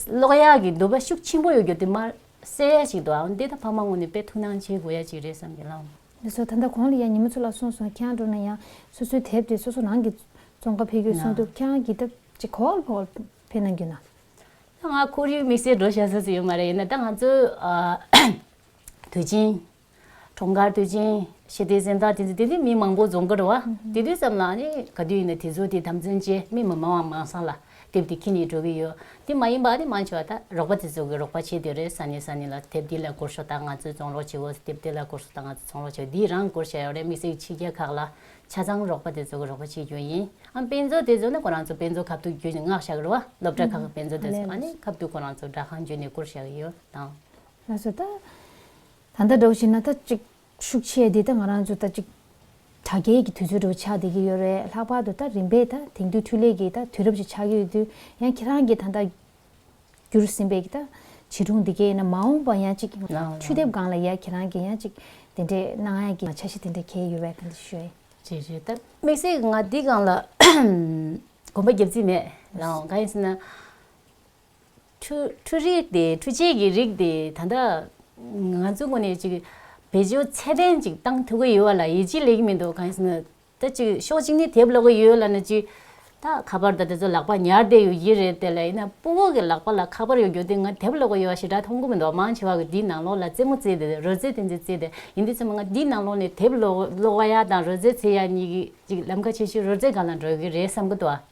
གློག་ཡག་གི་འདུ་བ་ཤུགས་ཆེན་པོ་ཡོད་རྒྱུ་དེ་མ་གསལ་ཡ་ཞིག་འདུག་ཨང་འདི་ད་ཕ་མ་ངོ་ནས་དཔེ་ཐུགས་སྣང་བྱེད་དགོས་ཡ་ཅིག་རེད་བསམ་གྱི་ལང། མི་སོ་ད་ལྟ་གོང་ལ་ཡ་ཉི་མ་ཚོ་ལ་སོང་སོང་ཁྱེད་རང་འགྲོ་ན་ཡ་སོ་སོའི་དེབ་དེ་སོ་སོ་རང་གི་ཙོང་ཁ་ཕེ་གྱོད་སོང་འདུག་ཁྱེད་རང་གིས་ད་ཅིག་གོ་ལྷོ་བར་ཕེ་ན་རྒྱུ་ན། ད་ང་ཁོར་ཡུག་དམིགས་བསལ་འགྲོ་ཤ་ས་སུ་ཡོད་མ་རེད་ཡིན་ན་ད་ང་ཚོའི་དུས་ཆེན། གྲོང་མཁར་དུས་ཆེན་ཞེས་དེ་གཟེངས་རྟགས་དེ་ཚོ་དེ་དུས་མི་མང་པོ་རྫོང་མཁར་བ་དེ་དུས་ཙམ་ལ་ནི་ག་དུས་ཡིན་ན་དེ་ཚོ་དེ་དམ་འཛིན་བྱེད་མི་མི་མང་བ་མང་ས་ལ་དེབ་དེ་ཁྱེར་ནས་འགྲོ་གི་ཡོད་དེ་མ་ཡིན་པ་ནི་མང་ཆེ་བ་ད་རོགས་པ་དེ་ཚོ་གི་རོགས་པ་བྱེད་དུས་རེད་ས་ནས་ས་ནས་ལ་དེབ་འདི་ལ་སྐོར་ཞོག་ད་ང་ཚོས་བཙོང་རོགས་བྱེད་འོ་དེབ་དེ་ལ་སྐོར་ཞོག་ད་ང་ཚོས་འཚོང་རོགས་བྱེད་འོ་འདི་རང་སྐོར་བྱས་ཡོད་རེད་དམིགས་བསལ་ཕྱི་རྒྱལ་ཁག་ལ་ཆ་ཚང་རོགས་པ་དེ་ཚོ་གི་རོགས་པ་བྱེད་རྒྱུ་ཡིན་ཨང་དཔེ་མཛོད་དེ་ཚོ་ནི་ཁོ་རང་ཚོ་དཔེ་མཛོད་ཁ་ཐུག་རྒྱུ་ནི་སྔགས་ཞབས་རི་བ་སློབ་གྲྭ་ཁག་གི་དཔེ་མཛོད་དེ་ཚོ་ལ་ནི་ཁ་ཐུག་ཁོ་རང་ཚོ་སྦྲག་ཁང་བརྒྱུད་ནས་སྐོར་བྱས་ཡོད་དང། ལྷ་ས་ད་ད་ལྟ་འགྲོ་བཞིན་ན་ད་ཅིག་ཤུགས་ཆེ་དེ་ད་ང་རང་ཚོ་ད་ཅིག་དྲ་རྒྱའི་གི་དུས་ཚོད་དྲུག་ཆགས་བསྡད་ཀྱི་ཡོད་རེད་ལྷག་པར་དུ་ད་རིམ་པས་ད་དེང་དུས་འཕྲུལ་ལས་གི་ད་དུས་རབས་ཅིག་ཆགས་ཀྱི་ཡོད་དུས་ཡང་ཁྱེད་རང་གི་ད་ད་བསྒྱུར་ཟིན་པའི་གི་ད་བྱིས་སྒྲུང་དེ་གའི་ན་མ་འོངས་པ་ཡང་ཅིག་འཕྲུལ་དེབ་སྒང་ལ་ཡང་ཁྱེད་རང་གི་ཡང་ཅིག་དེ་འདྲའི་སྣང་ཡང་གི་ཆ་ཤས་དེ་འདྲ་གས་ཡོད་བས་ག་འདི་ཞུ། བྱས་བྱས་ད་དམིགས་བསལ་གི་ང་འདི་སྒང་ལ་གོམ་པ་རྒྱབ་རྩིས་མེད་རང་ག་ཡིན་ཟེར་ན། འཕྲུལ་རིགས་དེ་འཕྲུལ་ཆས་ཀྱི་རིགས་དེ་ད་ལྟ་ང་ཚོའི་ངོས་ནས་ཅིག་བེད་སྤྱོད་ཚད་ལྡན་ཅིག་བཏང་ཐུབ་ཀྱི་ཡོད་བ་ལ་ཡིད་ཆེས་ལེགས་མི་འདུག་གང་ཞེ་ན། ད་ཅིག་ཕྱོགས་གཅིག་ནས་དེབ་ཀློག་གི་ཡོད་ལ་ན་ཅིག་ད་ཁ་པར་དང་དེ་ཚོ་ལག་པ་ཉར་བསྡད་ཡོད་ཀྱི་རེད་དེ་ལ་ཡིན་ན་སྤུ་བོ་གི་ལག་པ་ལ་ཁ་པར་ཡོད་རྒྱུ་དེ་ང་དེབ་ཀློག་གི་ཡོད་བ་ཞེ་དྲག་མཐོང་གི་མི་འདུག་མང་ཆེ་བ་གི་འདིའི་ནང་ལོགས་ལ་རྩེད་མོ་རྩེ་དེ་རོལ་རྩེད་དེ་ཚོ་རྩེ་དེ་ཡིན་དེ་ཚོ་མ་ང་འདིའི་ནང་ལོགས་ནས་དེབ་ཀློག་བ་ཡག་དང་རོལ་རྩེད་རྩེ་ཡག་གཉིས་ཀྱི་ཅིག་ལམ་ཁ་ཆེ་ཤོས་རོལ་རྩེད་གང་ལ་འགྲོ་གི་རེད་བསམ་གི་འདུག།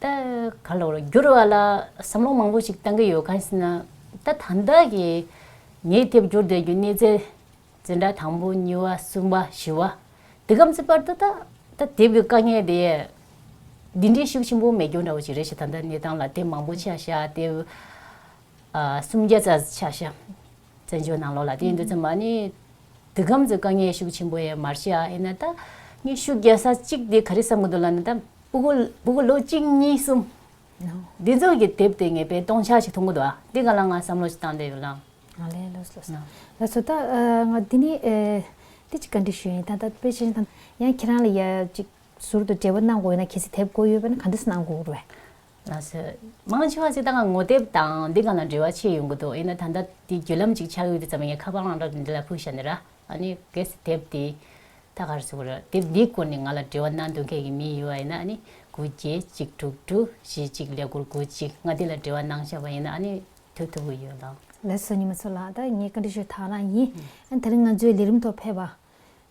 ད་ག་ལ་བར་འགྱུར་བ་ལ་བསམ་བློ་མང་པོ་ཞིག་བཏང་གི་ཡོད་གང་ཞེ་ན། ད་ད་ལྟ་གི་ངས་དེབ་སྐྱོར་འདོན་རྒྱུའི་གནས་ཚད། འཛིན་གྲྭ་དང་པོ་གཉིས་བ་གསུམ་བ་བཞི་བ་འདི་གམ་ཚིག་བར་དུ་ད་ད་དེབ་ཀྱི་དཀའ་ངལ་དེ། འདི་འདྲའི་ཤུགས་ཆེན་པོ་མེད་རྒྱུ་འདྲ་བོ་ཞིག་རེད་ཞེས་ད་ལྟ་གནས་སྟངས་ལ་དེབ་མང་པོ་ཆགས་ཤག་དེབ་གསུམ་བརྒྱ་རྩ་ཆགས་ཤག། བཙན་བྱོལ་ནང་ལོགས་ལ་དེའི་འདུ་འཛོམས་མ་ནི། འདི་སྒམ་ཚོས་དཀའ་ངལ་ཤུགས་ཆེན་པོ་ཡས་མར་ཤི་ཨ་ཨེ་ན་ད། ངས་ཤུགས་རྒྱག་ས་གཅིག་དེ་ག་རེ་བསམ་གི་འདུག་ལ་ན་ད། པུ་གུ་པུ་གུ་ལོ་གཅིག་གཉིས་གསུམ། འདི་ཚོ་གི་དེབ་དེ་ངས་པའི་སྟོང་ཆ་ཞིག་མཐོང་གི་འདུག་ཨ་དེ་ག་ལ་ང་བསམ་བློ་ཞིག་བཏང་བསྡད་ཡོད་ལ། ང་ལས་ལོས་ལོས་སོང། ལོས་སོང་ད་ང་དེ་ནི་འདི་ཅིག་ག་འདྲི་ཞུ་ཡིན་ད་ད་པེ་ཅིན་ད། ཡང་ཁྱེད་རང་ལ་ཡ་ཅིག་ཟུར་དུ་འབྲེལ་བ་གནང་དགོས་ན་གལ་སྲིད་དེབ་དགོས་ཡོད་པ་ན་ག་འདི་སུ་གནང་དགོས་རེད། ན་སོད། མང་ཆེ་བ་ཞིག་ད་གང་ངོ་དེབ་དང་འདི་གང་ལ་འབྲེལ་བ་ཆེ་ཡོང་གི་འདུག་ཡིན་ན་ད་ལྟ་འདི་བརྒྱུད་ལམ་ཅིག་ཆགས་ཡོད་དུས་ཙམ་ངས་ཁ་པར་ཨང་གྲངས་འདི་ལ་ཕུལ་ཤ་ནི་ར། ཨ་ནི་གལ་སྲིད་དེབ་འདི་ད་གར་བཟོ་གི་རེད་དེབ་འདིའི་སྐོར་ནས་ང་ལ་འབྲེལ་བ་གནང་འདོད་མཁན་གྱི་མི་ཡོད་པ་ཡིན་ན་ཨ་ནི་དགུ་བརྒྱད་གཅིག་དྲུག་དྲུག་བཞི་གཅིག་ལས་སྒོར་དགུ་གཅིག་ང་འདི་ལ་འབྲེལ་བ་གནང་ཤ་བ་ཡིན་ན་ཨ་ནི་ཐུག་ཐུབ་གི་ཡོད་ལགས། ལེགས་སོ་ཉི་མ་འཚོ་ལགས་ད་ངས་བཀའ་འདྲི་ཞུ་ཐག་རང་ཡིན། ད་རིང་ང་ཚོའི་ལས་རིམ་ཐོག་ཕེབས་པ།